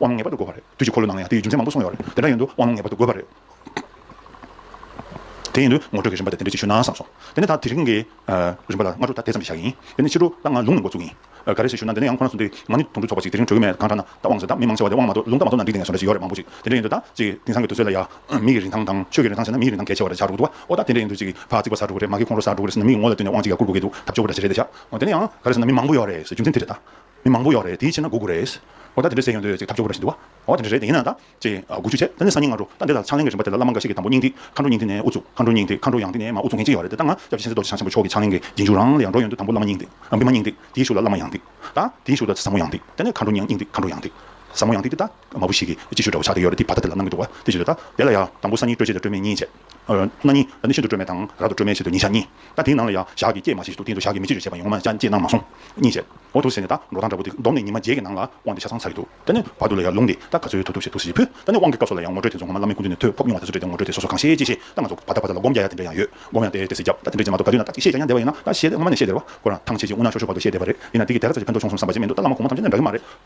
དབང་ངེས་པར་དུ་དགོས་པ་རེད། དུས་ཀྱི་འཁོར་ལོ་ནང་ལ་ཡང་དེའི་རྒྱུ་མཚན་མང་པོ་གསུངས་ཡོད་རེད། དེ་འདྲ་ཡིན་དུས་དབང་ལུང་ངེས་པར་དུ་དགོས་པ་རེད། དེ་ཡིན་དུས་ངོ་སྤྲོད་ཀྱི་རིམ་པ་དེ་དེ་འདྲས་ཅིག་ཞུས་ན་བསམ་སོང། དེ་ནས་ད་དེ་རིང་གི་རིམ་པ་ལ་སྔ་དྲོ་ད་དེ་ཙམ་གྱིས་བཞག་ཡིན། དེ་ནས་ཕྱི་དྲོ་ད་ང་ལུང་ནས་འགོ་བཙུགས་ཡིན། ག་རེ་ཞིག་ཞུ་ན་འདི་ནས་ཡང་ཁོ་ན་སོང་དུས་ང་ནི་དུམ་བུ་ཚོགས་པ་ཅིག་དེ་རིང་གྲོལ་གི་མེད་གང་འདྲ་ན་ད་དབང་ཟེར་ད་མི་མང་ཆེ་བ་དེ་དབང་མ་གཏོགས་ལུང་རྟ་མ་གཏོགས་ན་འགྲིག་བསྡད་ངེས་སོང་འདྲ་ཞིག་ཡོད་རེད་མང་པོ་ཅིག་དེ་འདྲ་ཡིན་དུས་ད་ཅིག་དེང་སང་གི་དུས་ཚོད་ལ་ཡང། མི་ཡི་རིན་ཐང་དང་ཆོས་ཀྱི་རིན་ཐང་བྱས་ན་མི་ཡི་རིན་ཐང་གལ་ཆེ་བ་རེད་བྱ་རུག་འདུག་བ། ཨོ་ད་དེ་འདྲ་ཡིན་དུས་ཅིག་ཕག་གཅིག་པ་ཟ་རུག་གི་རེད་ཟེར་ན་མི་ཡི་ངོ་ལ་བལྟོས་ནས་དབང་ཅིག་ཡར་བསྐུར་དགོས་ཀྱི་འདུག་ཐབས་སྐྱོ་པོ་འདྲ་ཞིག་རེད་བྱ། དེ་ནས་ཡང་ག་རེ་ཟེར་ན་མི་མང་པོ་ཡོད་རེད་ཟེར་རྒྱུ་མཚན་དེ་རེད་ད། མི་མང་པོ་ཡོག་རེད་དེའི་ཕྱིར་ན་དགུ་དགུ་རེད། ཨོ་ད་དེ་འདྲ་ཟེར་ཡོང་དུས་ཅིག་ཐབས་སྐྱོ་པོ་རེ་ཞིག་འདུག་བ། འོ་དེ་འདྲ་རེད་དེ་ཡིན་ན་ད། ཅེས་དགུ་བཅུ་བྱས་ད་ནི་སང་ཉིན་སྔ་དྲོ་ད་འདི་ལྟར་ཕྱག་ལེན་གྱི་རིན་པ་དེ་ལ་བླ་མ་འགའ་ཞིག་གིས་དང་པོ་སྙིང་ཐིག་མཁའ་འགྲོ་སྙིང་ཐིག་ནས་དབུ་ཚུགས་མཁའ་འགྲོ་སྙིང་ཐིག་མཁའ་འགྲོ་ཡང་ཐིག་ནས་མ་དབུ་ཚུགས་མཁན་ཅིག་ཡོག་རེད་དེ་ལྟ་ན་སྐྱབས་རྗེ་ཆེན་ཟླ་བ་རྡོ་རྗེ་འཆང་ཆེན་པོ་མཆོག་གི་ཕྱག་ལེན་གྱི་རྗེས་འཇུག་རང་ལ་ཡང་འགྲོ་ཡོང་དུས་དང་པོ་བླ་མ་སྙིང་ཐིག་བི་མ་སྙིང་ཐིག་དེའི་ཤུགས་ལ་བླ་མ་ཡང་ཐིག་ད་དེའི་ཤུགས་ལ་ཟབ་མོ་ཡང་ཐིག་དེ་ནས་མཁའ་འགྲོ་སྙིང་ཐིག་མཁའ་འགྲོ་ཡང་ཐིག་ཟབ་མོ་ཡང་ཐིག་དེ་ལྟ། མ་བུ་ཞིག་གིས་ཅིག་ཤོས་འདྲ་བོ་ཕྱག་དེ་ཡོག་རེད་དེའི་བར་ཐག་དེ་ལ་སྣང་གི་འདུག་བ་དེ་ཞིག་རེད་ད་དེ་ལ་ཡང་དང་པོ་སང་ཉིན་སྤྲོས་བཅས་དང་སྤྲོས་མེད་གཉིས་བྱས། སྣ་གཉིས། ད་ནི་ཤིན་ཏུ་སྤྲོས་མེད་དང། རབ་ཏུ་སྤྲོས་མེད་ཕྱིར་དུ་ཉིན་ཞག་གཉིས། ད་དེའི་ནང་ལ་ཡང་ཞག་གིས་བསྐྱེད་མ་བྱས་ཤིག་ཏུ་སྟེང་དུ་ཞག་གིས་མི་བསྐྱེད་ཅེས་བྱས་པ་ཡོངས་མ་བསྐྱེད་སྣང་མ་སོང། གཉིས་བྱས། འོ་ཐུགས་ཟེར་ནས་ད་འགྲོ་དང་འདྲ་བོ་འདི་བསྡོམས་ནས་ཉི་མ་བརྒྱད་ཀྱི་ནང་ལ་དབང་འདི་ཆ་ཚང་ཚར་གྱི་འདུག་ད་ནི་བར་དུ་ལ་ཡར་ལུང་འདི་ད་ག་ཚོད་ཐུབ་ཐུབ་བྱེད་ཐུགས་གཞིག་གི་ཕུད། ད་ནི་དབང་གི་སྐབས་སོགས་ལ་ཡང་ངོ་སྤྲོད་དེ་ཚོ་ངོ་མ་བླ་མའི་སྐུ་མདུན་ནས་ཐོས་ཕོབ་མྱོང་བ་དེ་ཚོ་སྤྲད་དེ་ངོ་སྤྲོད་དེ་སོ་སོ་གང་ཤེས་ཅི་ཤེས་ད་ང་ཚོ་བར་ཐག་བར་ཐག་ལ་སྒོམ་རྒྱ་ཡ་དེ་འདྲ་ཡང་ཡོད་སྒོམ་ཡང་དེ་དེ་སྲིད་རྒྱབ་ད་དེ་འདྲ་བྱེད་མ་ཐུབ་ག་དུས་ན་ད་ཅིག་ཤེས་ཀྱང་ཡང་བདེ་བ་ཡིན་ན་ད་ཤེས་ཏེ་སྔོན་མ་ནས་ཤེས་བདེ་བ་ཁོ་རང་ཐང་ཆད་ཅིག་འོ་ན་ཤོར་ཤོར་བར་དུ་ཤེས་བདེ་བ་རེད་དེ་ནས་འདི་གི་དེ་ག་ཚོད་བྱེད་ཕན་ཐོགས་ཆོག་སོང་བསམ་པ་ཅིག་མི་འདུག་ད་བླ་མ་གོང་མ་ཐམས་ཅད་འདྲ་གི་མ་རེད།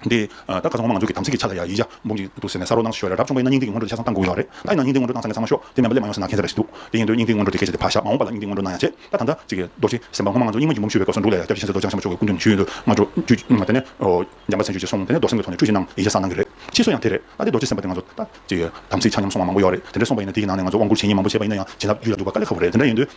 འདི་ད་ག་ཚོད་ངོ་མ་ང་ཚོ་གི་དམ་ཚིག་གི་ཆ་ལ་ཡ་ཡིད་ཆ་འབུམ་གྱིས་འདུག་ཟེར་ནས་ས་རོག་གནང་ཞོར་རབ་བྱུང་པའི་ན་སྙིང་ཏིག་གི་སྔོན་འགྲོ་ལས་ཆ་ཚང་བཏང་དགོས་ཡོད་རེད་ད་ཡིན་ན་སྙིང་ཏིག་སྔོན་འགྲོ་ནང་ཚང་གི་ཚང་མ་ཤོག་དེ་མེད་པ་ལས་མ་ཡོང་ཟེར་ན་ཁེངས་ས་རེད་ཟེར་འདུག་དེ་ཡིན་དུས་སྙིང་ཏིག་སྔོན་འགྲོ་དེ་གས་བྱས་ཏེ་ཕར་བཞག་མ་འོངས་པ་ལ་སྙིང་ཏིག་སྔོན་འགྲོ་ནང་ཡ་བྱས་ད་ད་ལྟ་ཅིག་རྡོ་རྗེ་སེམས་དཔའ་སྔོན་མ་ང་ཚོ་སྙིང་མ་གྱི་འབུམ་ཞུས་པའི་སྐབས་སུ་འདུག་ལས་ཡ་བརྒྱ་བྱས་ཟེར་རྡོ་རྗེ་འཆང་ཆོས་ཀྱི་སྐུ་མདུན་ནས་ཞུས་ཡོད་འདུག་སྔོན་འགྲོ་དེ་ནས་འཇམ་པ་ཚན་ཆུས་ཀྱིས་སོང་དེ་ནས་རྡོ་སེམས་ཀྱི་ཐོག་ནས་ཁྲུས་ཞིག་གནང་ཡིད་ཆ་སངས་གནང་གི་རེད་ཕྱིས་སུ་ཡང་དེ་རེད་ད་ལྟའི་རྡོ་རྗེ་སེམས་དཔའ་དེ་ང་ཚོ་ད་ཅིག་དམ་ཚིག་ཆ་མཉམ་སོང་བ་མང་པོ་ཡོད་རེད་དེ་འདྲས་སོང་པ་ཡིན་ན་དེ་ཡི་ནང་ནས་ང་ཚོ་དབང་བསྐུར་བྱེད་ཉིན་མང་པོ་བྱས་པ་ཡིན་ན་ཡང་བྱིན་རླབས་རྒྱུད་ལ་འཇུག་པ་དཀའ་ལས་ཁ་བོ་རེད་དེ་འདྲ་ཡིན་དུས།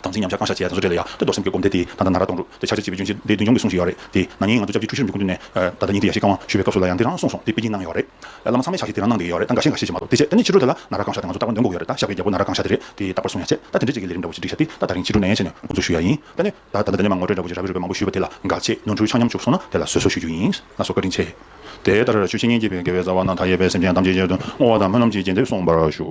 དམ་ཚིག་ཉམས་ཆག་བསྐང་བཤགས་བྱས་ཡ་ཟུང་བཟོ་བྲལ་ལ་ཡ་སྟོད་རྡོར་སེམས་བསྐྱེད་སྒོམ་བཟླས་དེས་ད་ལྟ་ན་ར་གཏོང་རུག་དེ་ཆགས་བྱེད་བྱེད་པོའི་འབྱུང་བྱེད་འདི་མདུན་ལྗོངས་ཀྱིས་གསུངས་བཞིན་ཡོད་རེད་དེ་ན་ནིང་ང་ཚོ་ཅག་གཅིག་ཆུ་ཤུར་མི་ཀུན་ཏུ་ནས་ད་ལྟ་ཉིན་དེ་ཡ་ཤེས་བསྐང་བ་ཞུ་བའི་སྐབས་སུ་ལ་ཡང་འདི་རང་གསུངས་སོང་དེ་དཔེ་གཉིས་གནང་གི་ཡོད་རེད་ད་བླ་མ་ཚང་མས་ཕྱག་བཞེས་དེ་རང་གནང་གི་ཡོད་རེད་ད་འགའ་ཤས་འགའ་ཤས་ཤེས་མ་ཐུབ་དེ་བྱས་ད་ནི་ཕྱི་དྲོ་དེ་ལ་ན་ར་གང་བཤགས་དེ་ང་ཚོ་རྟག་པར་འདོན་དགོས་ཡོད་རེད་ད་བཤགས་པའི་རྒྱལ་པོ་ན་ར་གང་བཤགས་དེ་རེད་དེ་རྟག་པར་གསུངས་ཡ་ཆེ་ད་དེ་འདྲ་གཅིག་གི་ལས་རིམ་འདྲ་བོ་ཅིག་སྒྲིག་བཤགས་དེ་ད་ད་རིང་ཕྱི་དྲོ་ནས་ཡན་ཆད་ནས་འགོ་འཛུགས་ཞུ་ཡ་ཡིན་ད་ནི་ད་ད་ལྟ་འདི་ནས་མ་ངོ་སྤྲོད་འདྲ་བོ་ཅིག་ཞག་པའི་རོལ་པའི་མང་པོ་ཞུས་པ་དེ་ལ་འགའ་ཆེ་ནོར་འཁྲུལ་ཆག་ཉམས་བཅུག་སོང་ན་དེ་ལ་བཟོད་གསོལ་ཞུ་རྒྱུ་ཡིན་ང་ཚོ་བཀའ་དྲིན་ཆེ། དེ་ལྟར་ཆུ་ཤིང་གཉིས་བསྐྱེད་པའི་དགེ་བའི་རྩ་བ་རྣམས་མཐའ་ཡས་པས་སེམས་ཅན་ཐམས་ཅད་ཆེད་དུ་བསྔོ་བ་དང་སྨོན་ལམ་གྱིས་རྗེས་འདེབས་གསུངས་པར་ཞུ།